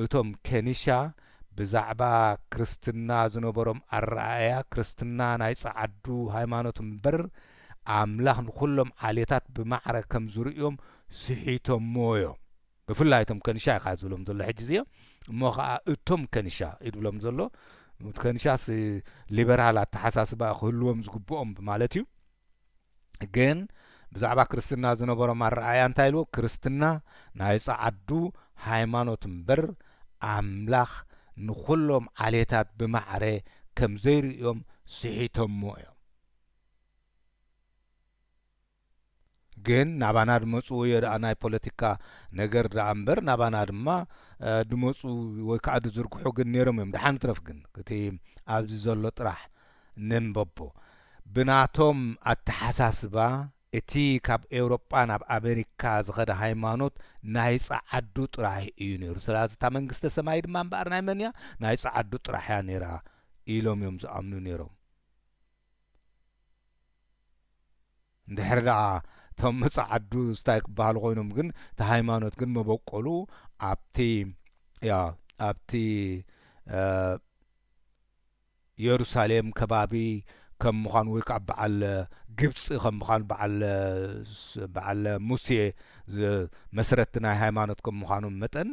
እቶም ኬኒሻ ብዛዕባ ክርስትና ዝነበሮም ኣረኣእያ ክርስትና ናይ ጸዓዱ ሃይማኖት እምበር ኣምላኽ ንኹሎም ዓሌታት ብማዕረ ከም ዝርእዮም ስሒቶሞዮ ብፍላይ እቶም ከኒሻ ኢኻ ዝብሎም ዘሎ ሕጂ እዚ እሞ ኸኣ እቶም ከኒሻ እዩ ዝብሎም ዘሎ ከኒሻስ ሊበራል ኣተሓሳስባ ክህልዎም ዝግብኦም ማለት እዩ ግን ብዛዕባ ክርስትና ዝነበሮም ኣረኣእያ እንታይ ኢሉ? ክርስትና ናይ ጸዓዱ ሃይማኖት እምበር ኣምላኽ ንኹሎም ዓሌታት ብማዕረ ከም ዘይርእዮም ስሒቶሞ እዮም። ግን ናባና ድመጽኡ እዮ ደኣ ናይ ፖለቲካ ነገር ደኣ እምበር ናባና ድማ ድመጽኡ ወይ ከዓ ድዝርግሑ ግን ነይሮም እዮም። ደሓን ይትረፍ ግን እቲ ኣብዚ ዘሎ ጥራሕ ነንበቦ። ብናቶም ኣተሓሳስባ እቲ ካብ ኤውሮጳ ናብ ኣመሪካ ዝኸደ ሃይማኖት ናይ ጸዓዱ ጥራሕ እዩ ነይሩ፣ ሰላዚ እታ መንግስተ ሰማይ ድማ እምበኣር ናይ መን እያ? ናይ ጸዓዱ ጥራሕ እያ ነይራ ኢሎም እዮም ዝኣምኑ ነይሮም። እንድሕር ደኣ እቶም ጸዓዱ ስታይ ክበሃሉ ኮይኖም ግን እቲ ሃይማኖት ግን መበቆሉ ኣብቲ ኣብቲ የሩሳሌም ከባቢ ከም ምዃኑ ወይ ከኣ በዓል ግብጺ ከም ምዃኑ በዓል በዓል ሙሴ መስረቲ ናይ ሃይማኖት ከም ምዃኖም መጠን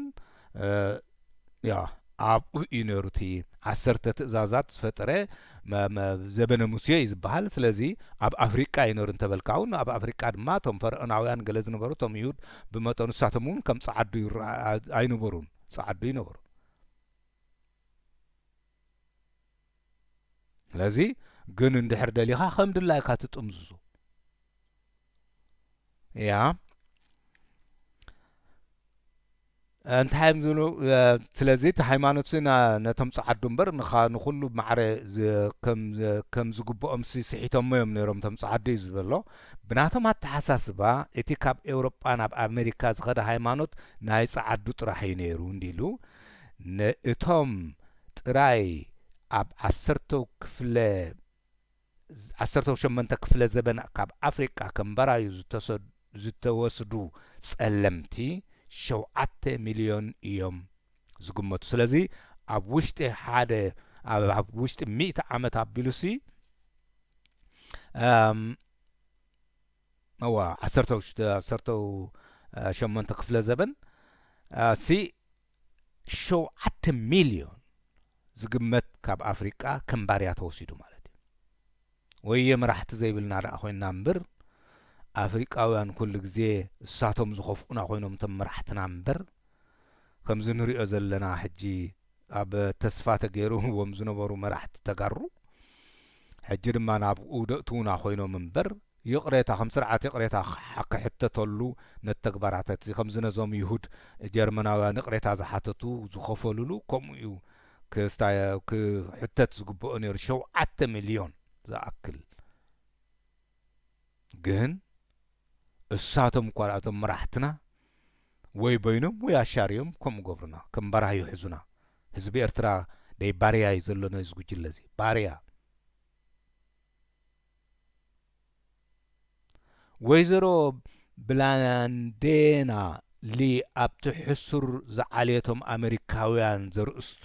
ያው ኣብኡ እዩ ነይሩ እቲ ዓሰርተ ትእዛዛት ዝፈጠረ ዘበነ ሙሴ እዩ ዝበሃል ስለዚ ኣብ ኣፍሪቃ እዩ ነይሩ እንተበልካ እውን ኣብ ኣፍሪቃ ድማ እቶም ፈርዖናውያን ገለ ዝነበሩ እቶም ይሁድ ብመጠኑ ንሳቶም እውን ከም ጸዓዱ ኣይነበሩን ጸዓዱ ይነበሩ ስለዚ ግን እንድሕር ደሊኻ ከም ድላይካ ትጥምዝዞ እያ እንታይ እዮም ዝብሉ ስለዚ እቲ ሃይማኖት ነቶም ፀዓዱ እምበር ንኩሉ ማዕረ ከም ዝግብኦም ስሒቶሞ እዮም ነይሮም እቶም ፀዓዱ እዩ ዝበሎ ብናቶም ኣተሓሳስባ እቲ ካብ ኤውሮጳ ናብ ኣሜሪካ ዝኸደ ሃይማኖት ናይ ፀዓዱ ጥራሕ እዩ ነይሩ እንዲሉ ንእቶም ጥራይ ኣብ ዓሰርተው ክፍለ ዓሰርተው ሸሞንተ ክፍለ ዘበን ካብ ኣፍሪቃ ከም ባራዩ ዝተሰዱ ዝተወስዱ ጸለምቲ ሸውዓተ ሚልዮን እዮም ዝግመቱ ስለዚ ኣብ ውሽጢ ሓደ ኣብ ኣብ ውሽጢ ሚእቲ ዓመት ኣቢሉሲ እም እወ ዓሰርተው ዓሰርተው ሸሞንተ ክፍለ ዘበን ኣሲ ሸውዓተ ሚልዮን ዝግመት ካብ ኣፍሪቃ ከም ባርያ ተወሲዱ ማለት እዩ። ወየ መራሕቲ ዘይብልና ደኣ ኮይንና እምብር ኣፍሪቃውያን ኩሉ ግዜ እሳቶም ዝኸፍኡና ኮይኖም እቶም መራሕትና እምበር ከምዚ ንሪኦ ዘለና ሕጂ ኣብ ተስፋ ተገይሩዎም ዝነበሩ መራሕቲ ተጋሩ ሕጂ ድማ ናብኡ ደእትውና ኮይኖም እምበር ይቕሬታ ከም ስርዓት ይቕሬታ ክሕተተሉ ነቲ ተግባራተት እዚ ከምዚ ነዞም ይሁድ ጀርመናውያን ይቕሬታ ዝሓተቱ ዝኸፈሉሉ ከምኡ እዩ ክስታ ክሕተት ዝግበኦ ነይሩ ሸውዓተ ሚልዮን ዝኣክል ግን እሳቶም እኳ እቶም መራሕትና ወይ በይኖም ወይ ኣሻርዮም ከምኡ ገብሩና ከም ባራህ ይሕዙና ህዝቢ ኤርትራ ደይ ባርያ እዩ ዘሎ ነዚ ጉጅለ እዚ ባርያ ወይዘሮ ብላንዴና ሊ ኣብቲ ሕሱር ዝዓልየቶም ኣመሪካውያን ዘርእስቱ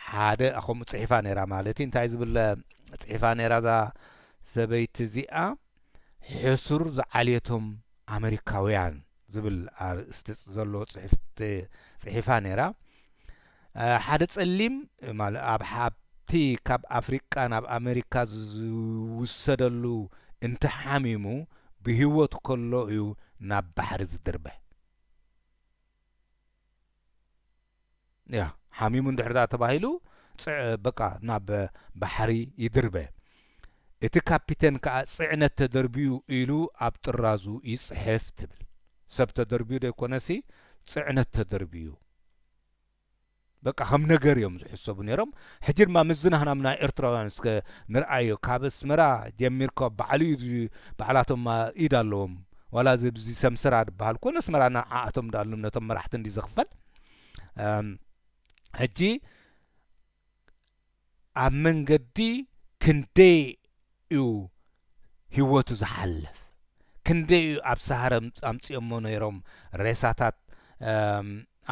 ሓደ ከምኡ ጽሒፋ ነይራ ማለት እዩ እንታይ ዝብል ጽሒፋ ነይራ እዛ ሰበይቲ እዚኣ ሕሱር ዝዓልየቶም ኣመሪካውያን ዝብል ኣርእስቲ ዘለዎ ጽሕፍቲ ጽሒፋ ነይራ ሓደ ጸሊም ማል ኣብ ሓብቲ ካብ ኣፍሪቃ ናብ ኣመሪካ ዝውሰደሉ እንተ ሓሚሙ ብሂወቱ ከሎ እዩ ናብ ባሕሪ ዝድርብሕ። ያህ ሓሚሙ እንድሕርዳ ተባሂሉ ጽዕ በቃ ናብ ባሕሪ ይድርበ። እቲ ካፒተን ከኣ ጽዕነት ተደርብዩ ኢሉ ኣብ ጥራዙ ይጽሕፍ ትብል። ሰብ ተደርብዩ ደይኮነሲ ጽዕነት ተደርብዩ። በቃ ከም ነገር እዮም ዝሕሰቡ ነይሮም ሕጂ ድማ ምስ ዝናህናምና ኤርትራውያን እስከ ንርኣዮ ካብ ኣስመራ ጀሚርካ ባዕሉ እዩ ባዕላቶም ኢድ ኣለዎም ዋላ እዚ ብዚ ሰምሰራ ድበሃል ኮን ኣስመራ ንዓኣቶም ድኣሉም ነቶም መራሕቲ እንዲ ዝኽፈል ሕጂ ኣብ መንገዲ ክንደይ ዩ ሂወቱ ዝሓልፍ ክንደይ ዩ ኣብ ሳሃረ ኣምጺኦሞ ነይሮም ሬሳታት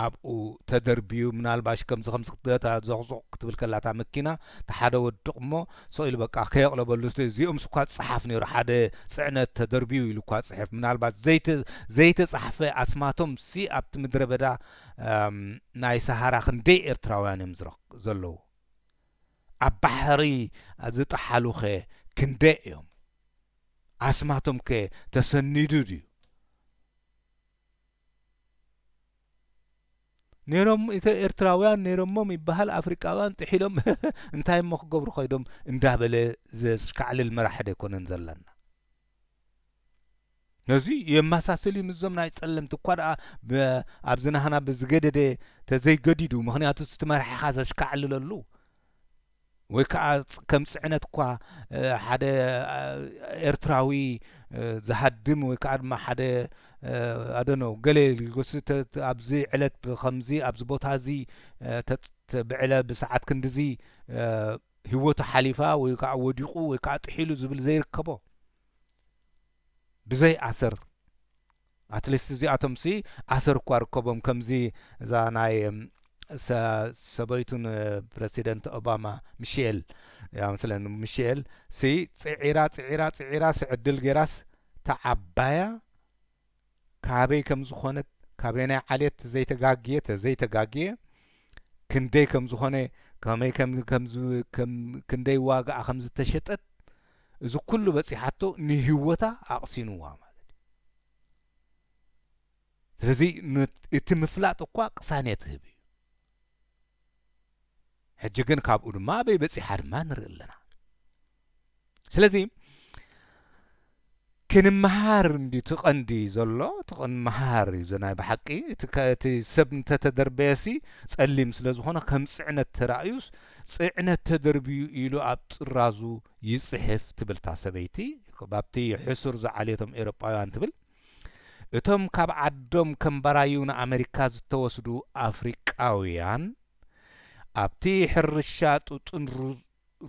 ኣብኡ ተደርብዩ ምናልባሽ ከምዚ ከምዚ ክትገታ ዞቅዞቅ ክትብል ከላ እታ መኪና እቲ ሓደ ወዲ ቁሞ ሶቅ ኢሉ በቃ ከየቅለበሉ እዚኦምስ እኳ ዝጸሓፍ ነይሩ ሓደ ጽዕነት ተደርብዩ ኢሉ እኳ ጽሕፍ ምናልባት ዘይተ ዘይተጻሕፈ ኣስማቶም ሲ ኣብቲ ምድረበዳ ናይ ሳሃራ ክንደይ ኤርትራውያን ዮም ዝረክቡ ዘለዉ ኣብ ባሕሪ ዝጠሓሉኸ ክንደይ እዮም? ኣስማቶምከ ተሰኒዱ ድዩ? ነይሮም ኤርትራውያን ነይሮሞም ይበሃል ኣፍሪቃውያን ጥሒሎም እንታይሞ ክገብሩ ከይዶም እንዳበለ ዘሽካዕልል መራሒ ዶ ኣይኮነን ዘለና። ነዚ የማሳስል እዩ ምስዞም ናይ ጸለምቲ እኳ ደኣ ኣብዚ ናህና ብዝገደደ ተዘይገዲዱ ምክንያቱ እቲ መራሒኻ ዘሽካዕልለሉ ወይ ከኣ ከም ጽዕነት እኳ ሓደ ኤርትራዊ ዝሃድም ወይ ከኣ ድማ ሓደ ኣደኖ ገለ ልጎስ ኣብዚ ዕለት ከምዚ ኣብዚ ቦታ እዚ ብዕለ ብሰዓት ክንድዚ ሂወቱ ሓሊፋ ወይ ካዓ ወዲቁ ወይ ካዓ ጥሒሉ ዝብል ዘይርከቦ ብዘይ ኣሰር ኣትሊስት እዚኣቶም ሲ ኣሰር እኳ ርከቦም ከምዚ እዛ ናይ ሰበይቱን ፕረሲደንት ኦባማ ሚሼል ያ መስለኒ ሚሼል ሲ ፅዒራ ፅዒራ ፅዒራስ ዕድል ጌራስ ተዓባያ ካበይ ከም ዝኾነ ካበየናይ ዓሌት ዘይተጋግየ ተዘይተጋግየ ክንደይ ከም ዝኾነ ከመይ ክንደይ ዋጋኣ ከም ዝተሸጠት እዚ ኩሉ በጺሓቶ ንህይወታ ኣቕሲንዋ ማለት እዩ። ስለዚ እቲ ምፍላጥ እኳ ቅሳኔት ህብ እዩ። ሕጂ ግን ካብኡ ድማ ኣበይ በጺሓ ድማ ንርኢ ኣለና። ስለዚ ክንመሃር እንዲ እቲ ቀንዲ ዘሎ እቲ ክንመሃር እዩ ዘናይ ብሓቂ እቲ ሰብ እንተተደርበየሲ ጸሊም ስለ ዝኾነ ከም ጽዕነት ተራእዩስ ጽዕነት ተደርብዩ ኢሉ ኣብ ጥራዙ ይጽሕፍ ትብል እታ ሰበይቲ ባብቲ ሕሱር ዝዓልየቶም ኤሮጳውያን ትብል እቶም ካብ ዓዶም ከም ባራዩ ንኣመሪካ ዝተወስዱ ኣፍሪቃውያን ኣብቲ ሕርሻ ጡጥን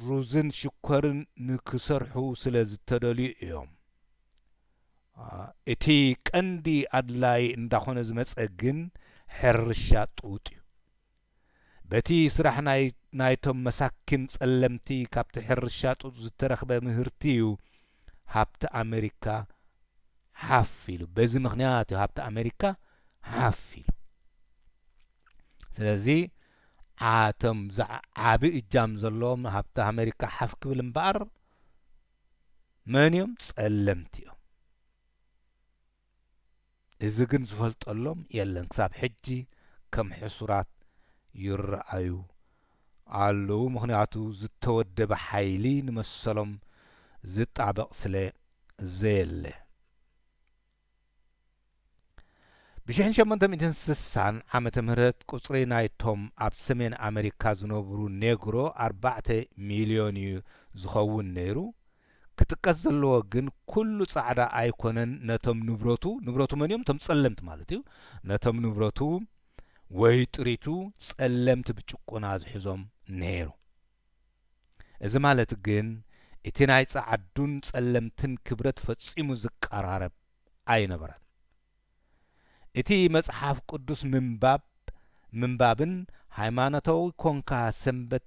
ሩዝን ሽኮርን ንክሰርሑ ስለ ዝተደልዩ እዮም። እቲ ቀንዲ ኣድላዪ እንዳኾነ ዝመጸ ግን ሕርሻ ጡጥ እዩ። በቲ ስራሕ ናይ ናይቶም መሳኪን ጸለምቲ ካብቲ ሕርሻ ጡጥ ዝተረኽበ ምህርቲ እዩ ሃብቲ ኣመሪካ ሓፍ ኢሉ። በዚ ምኽንያት እዩ ሃብቲ ኣመሪካ ሓፍ ኢሉ። ስለዚ። ዓኣቶም ዝዓዓቢ እጃም ዘለዎም ሃብቲ ኣመሪካ ሓፍ ክብል እምበኣር መን እዮም ጸለምቲ እዮም እዚ ግን ዝፈልጠሎም የለን ክሳብ ሕጂ ከም ሕሱራት ይረኣዩ ኣለዉ ምኽንያቱ ዝተወደበ ሓይሊ ንመሰሎም ዝጣበቕ ስለ ዘየለ። ብሽሕን ሸሞንተ ሚእትን ስሳን ዓመተ ምህረት ቁጽሪ ናይቶም ኣብ ሰሜን ኣመሪካ ዝነብሩ ኔግሮ ኣርባዕተ ሚልዮን እዩ ዝኸውን ነይሩ። ክጥቀስ ዘለዎ ግን ኩሉ ጻዕዳ ኣይኮነን ነቶም ንብረቱ ንብረቱ መን እዮም እቶም ጸለምቲ ማለት እዩ ነቶም ንብረቱ ወይ ጥሪቱ ጸለምቲ ብጭቁና ዝሕዞም ነይሩ። እዚ ማለት ግን እቲ ናይ ጸዓዱን ጸለምትን ክብረት ፈጺሙ ዝቀራረብ ኣይነበረን። እቲ መጽሓፍ ቅዱስ ምንባብ ምንባብን ሃይማኖታዊ ኰንካ ሰንበት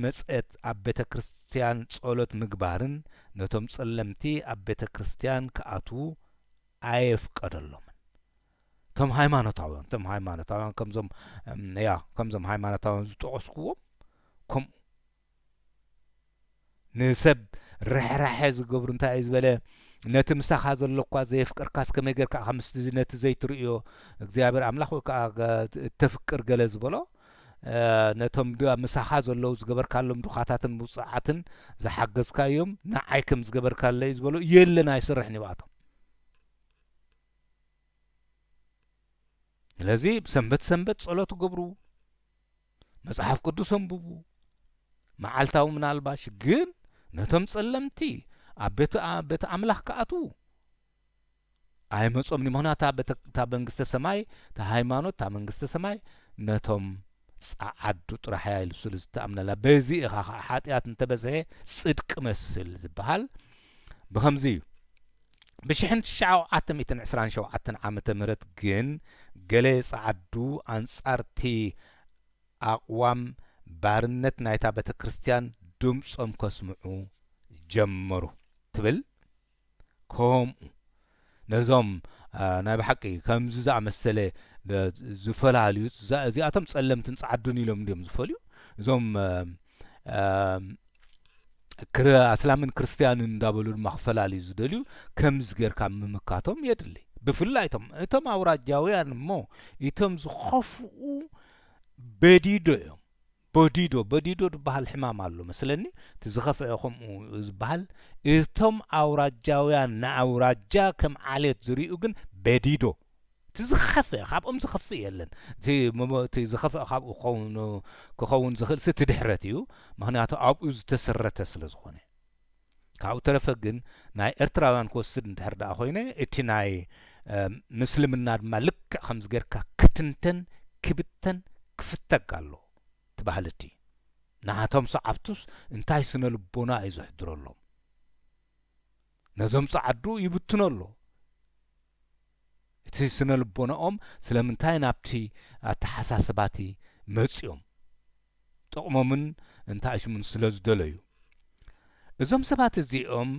መጸት ኣብ ቤተ ክርስትያን ጸሎት ምግባርን ነቶም ጸለምቲ ኣብ ቤተ ክርስትያን ክኣትዉ ኣየፍቀደሎምን። ከም ሃይማኖታውያን እቶም ሃይማኖታውያን ከምዞም ያ ከምዞም ሃይማኖታውያን ዝጠቐስኩዎም ከምኡ ንሰብ ርሕራሐ ዝገብሩ እንታይ እዩ ዝበለ ነቲ ምሳኻ ዘሎ እኳ ዘየፍቅርካስ ከመይ ጌርካ ኢኻ ምስ ነቲ ዘይትርእዮ እግዚኣብሔር ኣምላኽ ወይ ከዓ እተፍቅር ገለ ዝበሎ ነቶም ምሳኻ ዘለዉ ዝገበርካሎም ድኻታትን ምውፅዓትን ዝሓገዝካዮም ንዓይ ከም ዝገበርካለይ ዝበሎ የለን ኣይስርሕን ይብኣቶም ስለዚ ሰንበት ሰንበት ጸሎት ገብሩ፣ መጽሓፍ ቅዱስ ኣንብቡ፣ መዓልታዊ ምናልባሽ ግን ነቶም ጸለምቲ ኣብ ቤት ቤት ኣምላኽ ክኣትዉ ኣይመጾምኒ ምክንያቱ እታ መንግስተ ሰማይ እታ ሃይማኖት እታ መንግስተ ሰማይ ነቶም ጸዓዱ ጥራሕ እያ ኢሉ ስሉ ዝተኣምነላ በዚ ኢኻ ከዓ ሓጢኣት እንተበዝሐ ጽድቂ መስል ዝበሃል ብኸምዚ እዩ ብሽሕን ትሽዓዓተ ሚእትን ዕስራን ሸውዓተን ዓመተ ምህረት ግን ገለ ጸዓዱ ኣንጻርቲ ኣቕዋም ባርነት ናይታ ቤተክርስትያን ድምጾም ከስምዑ ጀመሩ ትብል ከምኡ ነዞም ናይ ብሓቂ ከምዚ ዝኣመሰለ ዝፈላልዩ እዚኣቶም ጸለምትን ጸዓዱን ኢሎም እንዲዮም ዝፈልዩ እዞም ኣስላምን ክርስትያንን እንዳበሉ ድማ ክፈላልዩ ዝደልዩ ከምዚ ጌርካ ምምካቶም የድሊ ብፍላይ እቶም እቶም ኣውራጃውያን እሞ እቶም ዝኸፍኡ በዲዶ እዮም በዲዶ በዲዶ ዝበሃል ሕማም ኣሎ መስለኒ እቲ ዝኸፍአ ከምኡ ዝበሃል እቶም ኣውራጃውያን ንኣውራጃ ከም ዓሌት ዝርኡ ግን በዲዶ እቲ ዝኸፍኤ ካብኦም ዝኸፍእ የለን እቲ ምም እቲ ዝኸፍኤ ካብኡ ክኸውን ክኸውን ዝኽእልሲ እቲ ድሕረት እዩ ምኽንያቱ ኣብኡ ዝተሰረተ ስለ ዝኾነ ካብኡ ተረፈ ግን ናይ ኤርትራውያን ክወስድ እንድሕር ድኣ ኮይነ እቲ ናይ ምስልምና ድማ ልክዕ ከምዚ ጌርካ ክትንተን ክብተን ክፍተግ ኣሎ እቲ ባህሊ እቲ ንዓቶም ሰዓብቱስ እንታይ ስነ ልቦና እዩ ዘሕድረሎም ነዞም ጸዓዱ ይብትኖ ኣሎ እቲ ስነልቦናኦም ስለምንታይ ናብቲ ኣተሓሳስባቲ መጺኦም ጥቕሞምን እንታይስሙን ስለዝደለዩ። እዞም ሰባት እዚኦም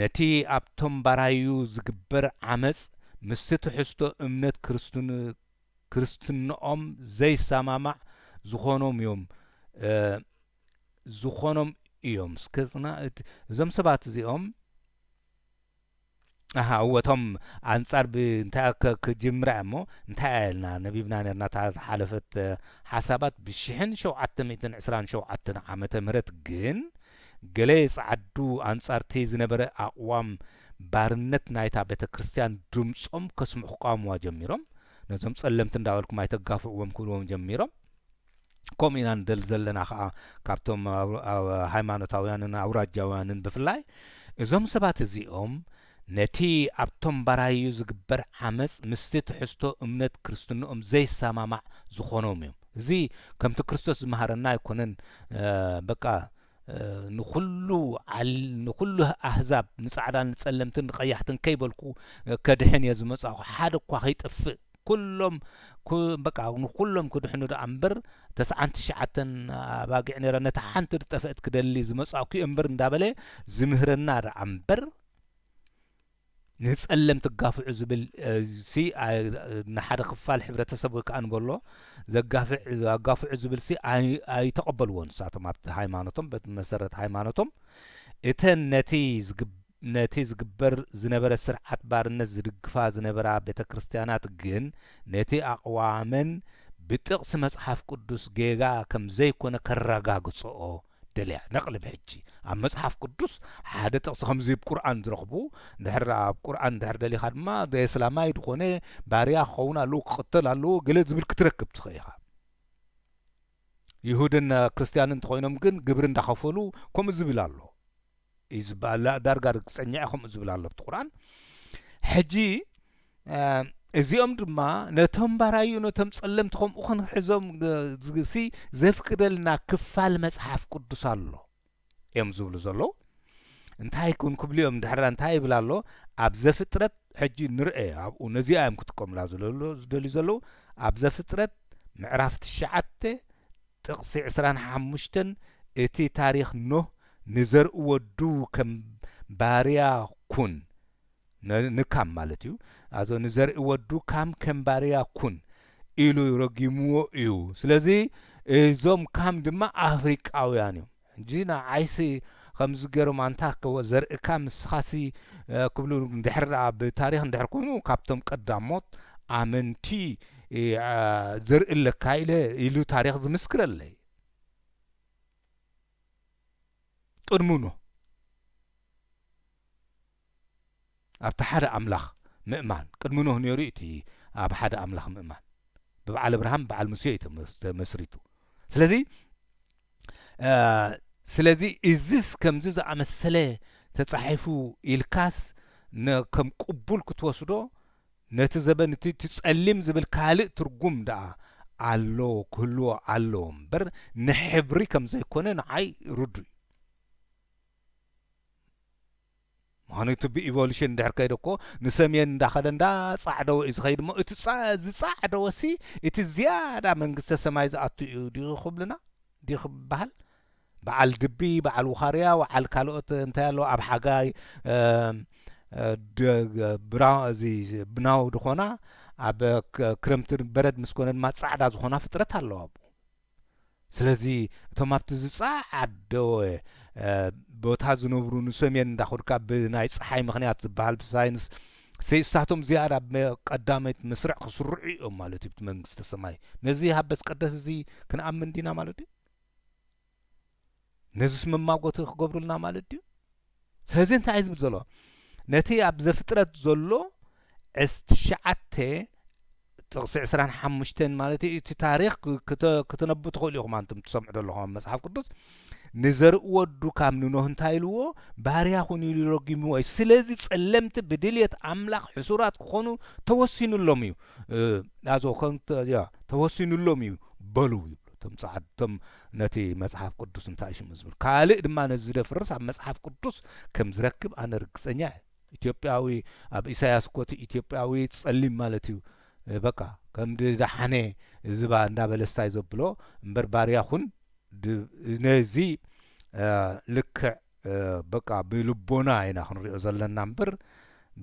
ነቲ ኣብቶም ባራዩ ዝግበር ዓመጽ ምስቲ ትሕዝቶ እምነት ክርስትንኦም ዘይሰማማዕ ዝኾኖም እዮም ዝኾኖም እዮም እዞም ሰባት እዚኦም። ኣሃ እወ እቶም ኣንጻር ብ እንታይ ኣከ ክጅምራ እያ እሞ እንታይ ኣያ ኢልና ነቢብና ኔርና እታ ዝሓለፈት ሓሳባት ብ ሽሕን ሸውዓተ ሚእትን ዕስራን ሸውዓተን ዓመተ ምህረት ግን ገለ ይጸዓዱ ኣንጻርቲ ዝነበረ ኣቕዋም ባርነት ናይታ ቤተ ክርስትያን ድምጾም ከስምዑ ክቃወምዋ ጀሚሮም ነዞም ጸለምቲ እንዳበልኩም ኣይተጋፍዕዎም ክብልዎም ጀሚሮም ከምኡ ኢና ንደሊ ዘለና ከዓ ካብቶም ሃይማኖታውያንን ኣውራጃውያንን ብፍላይ እዞም ሰባት እዚኦም ነቲ ኣብቶም ባራዩ ዝግበር ዓመጽ ምስቲ ትሕዝቶ እምነት ክርስትንኦም ዘይሰማማዕ ዝኾኖም እዮም እዚ ከምቲ ክርስቶስ ዝመሃረና ኣይኮነን በቃ ንኹሉ ንኹሉ ኣህዛብ ንጻዕዳን ንጸለምትን ንቀያሕትን ከይበልኩ ከድሕን እየ ዝመጻኹ ሓደ እኳ ከይጠፍእ ኩሎም ኩ በቃ ንኹሎም ክድሕኑ ደኣ እምበር ተስዓን ትሽዓተን ኣባጊዕ ነይረን ነታ ሓንቲ ዝጠፍአት ክደሊ ዝመጻእኩ እየ እምበር እንዳበለ ዝምህረና ደኣ እምበር ንጸለም ትጋፍዑ ዝብል ሲ ንሓደ ክፋል ሕብረተሰብ ወይ ከዓ ንበሎ ዘጋፍዕ ኣጋፍዑ ዝብል ሲ ኣይተቐበልዎን ንሳቶም ኣብቲ ሃይማኖቶም በቲ መሰረት ሃይማኖቶም እተን ነቲ ነቲ ዝግበር ዝነበረ ስርዓት ባርነት ዝድግፋ ዝነበራ ቤተ ክርስቲያናት ግን ነቲ ኣቕዋመን ብጥቕሲ መጽሓፍ ቅዱስ ጌጋ ከም ዘይኰነ ከረጋግጽኦ ደልያ። ነቕልብ ሕጂ ኣብ መጽሓፍ ቅዱስ ሓደ ጥቕሲ ከምዚ ብ ቁርኣን ዝረኽቡ ድሕር ኣብ ቁርኣን ድሕር ደሊኻ ድማ ዘየስላማይ ድዀነ ባርያ ክኸውን ኣለዎ ክቕተል ኣለዎ ገለ ዝብል ክትረክብ ትኽእል ኢኻ። ይሁድን ክርስትያንን እንተኾይኖም ግን ግብሪ እንዳኸፈሉ ከምኡ ዝብል ኣሎ እዩ ዝበሃል ዳርጋ ርግፀኛ'የ ከምኡ ዝብል ኣሎ ኣብቲ ቁርኣን ሕጂ እዚኦም ድማ ነቶም ባራዩ ነቶም ጸለምቲ ከምኡ ክንሕዞም ሲ ዘፍቅደልና ክፋል መጽሓፍ ቅዱስ ኣሎ እዮም ዝብሉ ዘለዉ እንታይ ኩን ክብሉ እዮም ድሕራ እንታይ ይብል ኣሎ ኣብ ዘፍጥረት ሕጂ ንርኤ ኣብኡ ነዚኣ እዮም ክጥቀሙላ ዝደልዩ ዘለዉ ኣብ ዘፍጥረት ምዕራፍ ትሽዓተ ጥቕሲ ዕስራን ሓሙሽተን እቲ ታሪኽ ኖህ ንዘርኢ ወዱ ከም ባርያ ኩን ን ንካም ማለት እዩ ኣዞ ንዘርኢ ወዱ ካም ከም ባርያ ኩን ኢሉ ረጊምዎ እዩ ስለዚ እዞም ካም ድማ ኣፍሪቃውያን እዮም ሕጂ ንዓይሲ ከምዚ ገሮም ኣንታ ከ ዘርእካ ንስኻሲ ክብሉ ድሕር ደኣ ብታሪኽ ድሕር ኮይኑ ካብቶም ቀዳሞት ኣመንቲ ዘርኢ ኣለካ ኢለ ኢሉ ታሪኽ ዝምስክረለይ ቅድሙ ኖህ ኣብቲ ሓደ ኣምላኽ ምእማን፣ ቅድሚ ኖህ ኔሩ እዩ እቲ ኣብ ሓደ ኣምላኽ ምእማን፣ ብብዓል ኣብርሃም ብዓል ሙሴ እዩ ተመስሪቱ፣ ስለዚ ስለዚ እዝስ ከምዚ ዝኣመሰለ ተጻሒፉ ኢልካስ ከም ቅቡል ክትወስዶ ነቲ ዘበን እቲ እቲ ጸሊም ዝብል ካልእ ትርጉም ደኣ ኣሎ ክህልዎ ኣለዎ እምበር ንሕብሪ ከም ዘይኮነ ንዓይ ርዱእ እዩ። ምኽንይቱ ብኢቮሉሽን እንድሕር ከይዱ እኮ ንሰምየን እንዳኸደ እንዳጻዕደወ እዩ ዝኸይድ እሞ እቲ ዝጻዕደወሲ እቲ ዝያዳ መንግስተ ሰማይ ዝኣቱ እዩ ድዩ ክብሉና ድዩ ክበሃል በዓል ድቢ በዓል ውኻርያ ወዓል ካልኦት እንታይ ኣሎ ኣብ ሓጋይ ብራ እዚ ብናው ዝኾና ኣብ ክረምቲ በረድ ምስ ኮነ ድማ ጻዕዳ ዝኾና ፍጥረት ኣለዋ ኣብኡ ስለዚ እቶም ኣብቲ ዝጸዓደወ ቦታ ዝነብሩ ንሰሜን እንዳኹድካ ብናይ ጸሓይ ምክንያት ዝበሃል ብሳይንስ ሰይስታቶም ዝያዳ ቀዳመይት መስርዕ ክስርዑ እዮም ማለት እዩ መንግስተ ሰማይ ነዚ ሃበስ ቀደስ እዚ ክንኣምን ዲና ማለት እዩ ነዙስ መማጎቲ ክገብሩልና ማለት ድዩ ስለዚ እንታይ እዩ ዝብል ዘሎ ነቲ ኣብ ዘፍጥረት ዘሎ ዕስ ትሽዓተ ጥቕሲ ዕስራን ሓሙሽተን ማለት እዩ እቲ ታሪኽ ክትነቡ ትኽእሉ ኢኹም ኣንቱም ትሰምዑ ዘለኹም ኣብ መጽሓፍ ቅዱስ ንዘርኢ ወዱ ካብ ንኖህ እንታይ ኢልዎ ባርያ ኹን ኢሉ ረጊምዎ እዩ ስለዚ ጸለምቲ ብድልየት ኣምላኽ ሕሱራት ክኾኑ ተወሲኑሎም እዩ ኣዞ ተወሲኑሎም እዩ በሉ ይብሉ እቶም ጻዓድቶም ነቲ መጽሓፍ ቅዱስ እንታይ ሽሙ ዝብል ካልእ ድማ ነዚ ዝደፍርስ ኣብ መጽሓፍ ቅዱስ ከም ዝረክብ ኣነ ርግጸኛ እየ። ኢትዮጵያዊ ኣብ ኢሳያስ እኮ እቲ ኢትዮጵያዊ ጸሊም ማለት እዩ በቃ ከምዲ ዳሓነ እዝባ እንዳበለ ስታይ ዘብሎ እምበር ባርያ ኩን ነዚ ልክዕ በቃ ብልቦና ኢና ክንሪኦ ዘለና እምበር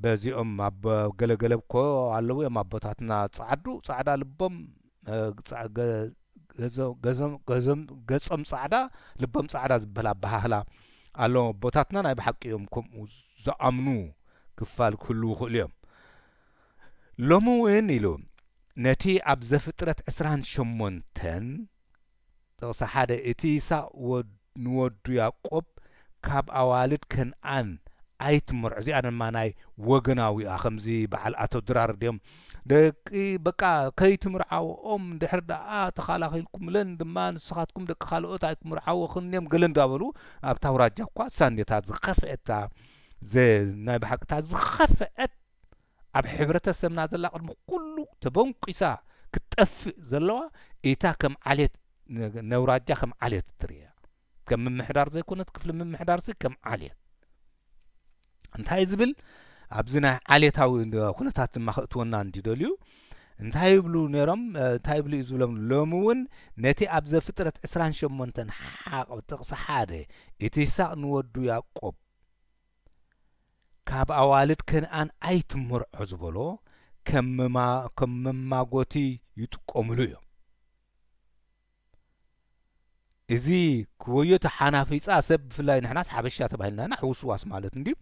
በዚኦም ኣብ ገለገለ እኮ ኣለዉ እዮም ኣቦታትና ጻዓዱ ጻዕዳ ልቦም ገጾም ጻዕዳ ልቦም ጻዕዳ ዝበል ኣበሃህላ ኣሎዎም ኣቦታትና ናይ ብሓቂ እዮም ከምኡ ዝኣምኑ ክፋል ክህልዉ ይኽእሉ እዮም ሎሚ እውን ኢሉ ነቲ ኣብ ዘፍጥረት ዕስራን ሸሞንተን ጥቕሲ ሓደ እቲ ይስሃቅ ወድ ንወዱ ያቆብ ካብ ኣዋልድ ከንኣን ኣይትመርዖ እዚኣ ድማ ናይ ወገናዊ እያ ከምዚ በዓል ኣቶ ድራር ድዮም ደቂ በቃ ከይትምርዓወኦም እንድሕር ደኣ ተኻላኺልኩምለን ድማ ንስኻትኩም ደቂ ካልኦት ኣይክምርዓወኽን እዮም ገለ እንዳበሉ ኣብታ ኣውራጃ እኳ ሳኔ እታ ዝኸፍኤት እታ ናይ ብሓቂ እታ ዝኸፍኤት ኣብ ሕብረተሰብና ዘላ ቅድሚ ኩሉ ተበንቊሳ ክትጠፍእ ዘለዋ ኢታ ከም ዓሌት ነውራጃ ከም ዓሌት እትርእያ ከም ምምሕዳር ዘይኮነት ክፍሊ ምምሕዳርሲ ከም ዓሌት እንታይ ዝብል ኣብዚ ናይ ዓሌታዊ ኩነታት ድማ ክእትወና እንዲደልዩ እንታይ ይብሉ ነይሮም እንታይ ይብሉ እዩ ዝብሎም ሎሚ እውን ነቲ ኣብ ዘፍጥረት 28 ሓቕ ጥቕሲ ሓደ እቲ ይስቅ ንወዱ ያቆብ ካብ ኣዋልድ ከነኣን ኣይትመርዖ ዝበሎ ከም መማጐቲ ይጥቀሙሉ እዮም። እዚ ክወዮታ ሓናፊጻ ሰብ ብፍላይ ንሕናስ ሓበሻ ተባሂልና ኢና ሕውስዋስ ማለት እንድዩ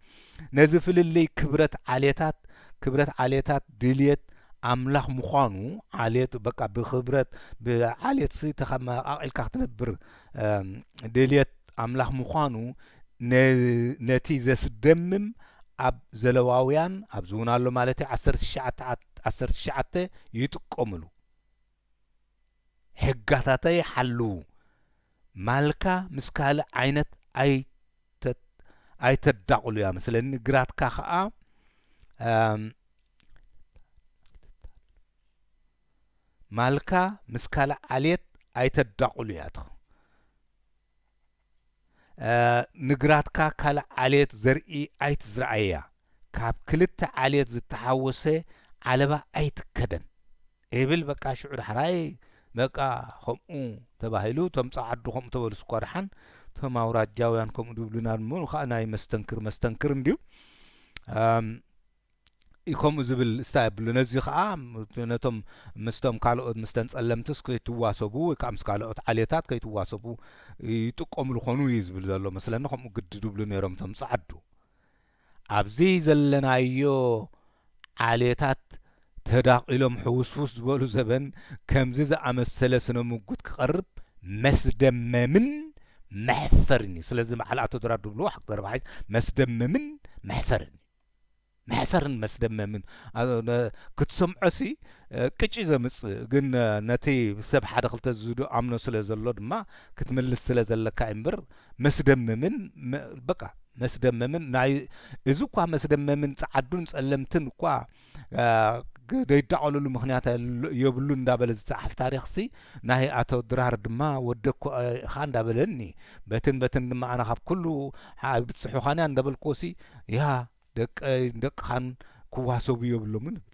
ነዚ ፍልልይ ክብረት ዓሌታት ክብረት ዓሌታት ድልየት ኣምላኽ ምዃኑ ዓሌት በቃ ብክብረት ብዓሌትሲ ተኸማቃቂልካ ክትነብር ድልየት ኣምላኽ ምዃኑ ነቲ ዘስደምም ኣብ ዘለዋውያን ኣብዚ ውን ኣሎ ማለት እዩ ዓሰርተ ትሽዓተ ዓሰርተ ትሽዓተ ይጥቀምሉ ሕጋታተ ይሓልው ማልካ ምስ ካልእ ዓይነት ኣይ ኣይተዳቕሉ እያ መስለኒ ግራትካ ከዓ ማልካ ምስ ካልእ ዓልየት ኣይተዳቑሉ ያትኹ ንግራትካ ካልእ ዓልየት ዘርኢ ኣይትዝርኣያ ካብ ክልተ ዓልየት ዝተሓወሰ ዓለባ ኣይትከደን ኤብል በቃ ሽዑ ዳሕራይ በቃ ኸምኡ ተባሂሉ እቶም ጸዓዱ ከምኡ ተበሉስ እኳ ደሓን እቶም ኣውራጃውያን ከምኡ ድብሉና እሞ ኸኣ ናይ መስተንክር መስተንክር እንድዩ ከምኡ ዝብል ስታይ ኣብሉ ነዚ ከኣ ነቶም ምስቶም ካልኦት ምስተን ጸለምትስ ከይትዋሰቡ ወይ ከኣ ምስ ካልኦት ዓሌታት ከይትዋሰቡ ይጥቀምሉ ኮኑ እዩ ዝብል ዘሎ መስለኒ ከምኡ ግዲ ድብሉ ነይሮም እቶም ጸዓዱ ኣብዚ ዘለናዮ ዓሌታት ተዳቒሎም ሕውስውስ ዝበሉ ዘበን ከምዚ ዝኣመሰለ ስነ ምጉት ክቐርብ መስደመምን መሕፈርን እዩ ስለዚ በዓል ኣቶ ድራር ድብልዎ ሓቅ ዘረባ ሓይስ መስደመምን መሕፈርን እዩ መሕፈርን መስደመምን ክትሰምዖሲ ቅጭ ዘምጽእ ግን ነቲ ሰብ ሓደ ክልተ ዝዱ ኣምኖ ስለ ዘሎ ድማ ክትምልስ ስለ ዘለካ እምበር መስደመምን በቃ መስደመምን ናይ እዚ እኳ መስደመምን ጸዓዱን ጸለምትን እኳ ደይዳቀሉሉ ምክንያት የብሉ እንዳበለ ዝጸሓፍ ታሪኽሲ ናይ ኣቶ ድራር ድማ ወዲ እኮ እኻ እንዳበለኒ በትን በትን ድማ ኣነ ካብ ኩሉ ኣይብጽሑኻንያ እንዳበልክዎሲ ያህ ደቀይን ደቅኻን ክዋሰቡ የብሎምን እብል።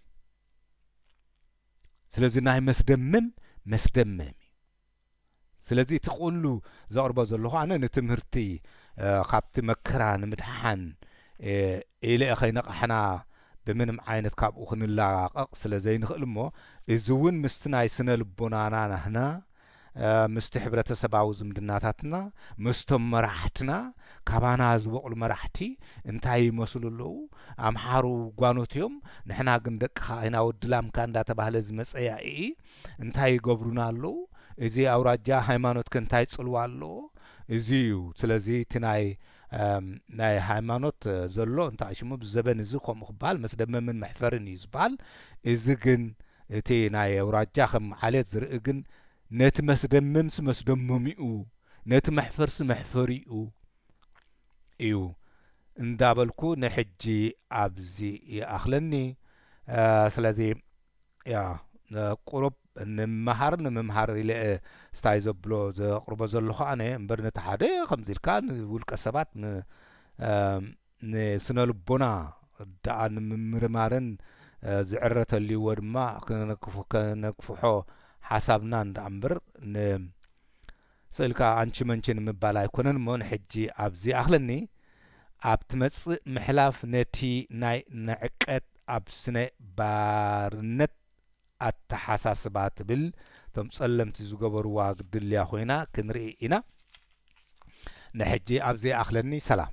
ስለዚ ናይ መስደምም መስደምም እዩ። ስለዚ እቲ ኩሉ ዘቕርቦ ዘለኹ ኣነ ንትምህርቲ ካብቲ መከራ ንምድሓን ኢለ ከይነቓሕና ብምንም ዓይነት ካብኡ ክንላቐቕ ስለ ዘይንኽእል እሞ እዚ እውን ምስቲ ናይ ስነ ልቦናና ናህና ምስቲ ሕብረተሰባዊ ዝምድናታትና ምስቶም መራሕትና ካባና ዝበቑሉ መራሕቲ እንታይ ይመስሉ ኣለዉ ኣምሓሩ ጓኖት እዮም ንሕና ግን ደቅኻ ኢና ወዲ ላምካ እንዳተባህለ ዝመጸ ያኢ እንታይ ይገብሩና ኣለዉ እዚ ኣውራጃ ሃይማኖትከ እንታይ ጽልዋ ኣለዎ እዚ እዩ ስለዚ እቲ ናይ ናይ ሃይማኖት ዘሎ እንታይ ሽሙ ኣብዚ ዘበን እዚ ከምኡ ክበሃል መስደመምን መሕፈርን እዩ ዝበሃል እዚ ግን እቲ ናይ ኣውራጃ ከም ዓሌት ዝርኢ ግን ነቲ መስደመምሲ መስደመሚኡ ነቲ መሕፈርሲ መሕፈሪኡ እዩ እንዳበልኩ ንሕጂ ኣብዚ ይኣኽለኒ ስለዚ ያ ቁሩብ ንምሃር ንምምሃር ኢለ ስታይ ዘብሎ ዘቕርቦ ዘለኹ ኣነ እምበር ነቲ ሓደ ከምዚ ኢልካ ንውልቀ ሰባት ንስነ ልቦና ደኣ ንምምርማርን ዝዕረ ተልይዎ ድማ ከነክፍሖ ሓሳብናን ደኣ እምበር ስእሊ ከኣ ኣንቺ መንቺ ንምባል ኣይኮነን እሞ ንሕጂ ኣብዚ ይኣኽለኒ። ኣብ ትመጽእ ምሕላፍ ነቲ ናይ ንዕቀት ኣብ ስነ ባርነት ኣተሓሳስባ ትብል እቶም ጸለምቲ ዝገበርዋ ግድልያ ኮይና ክንርኢ ኢና። ንሕጂ ኣብዚ ይኣኽለኒ። ሰላም።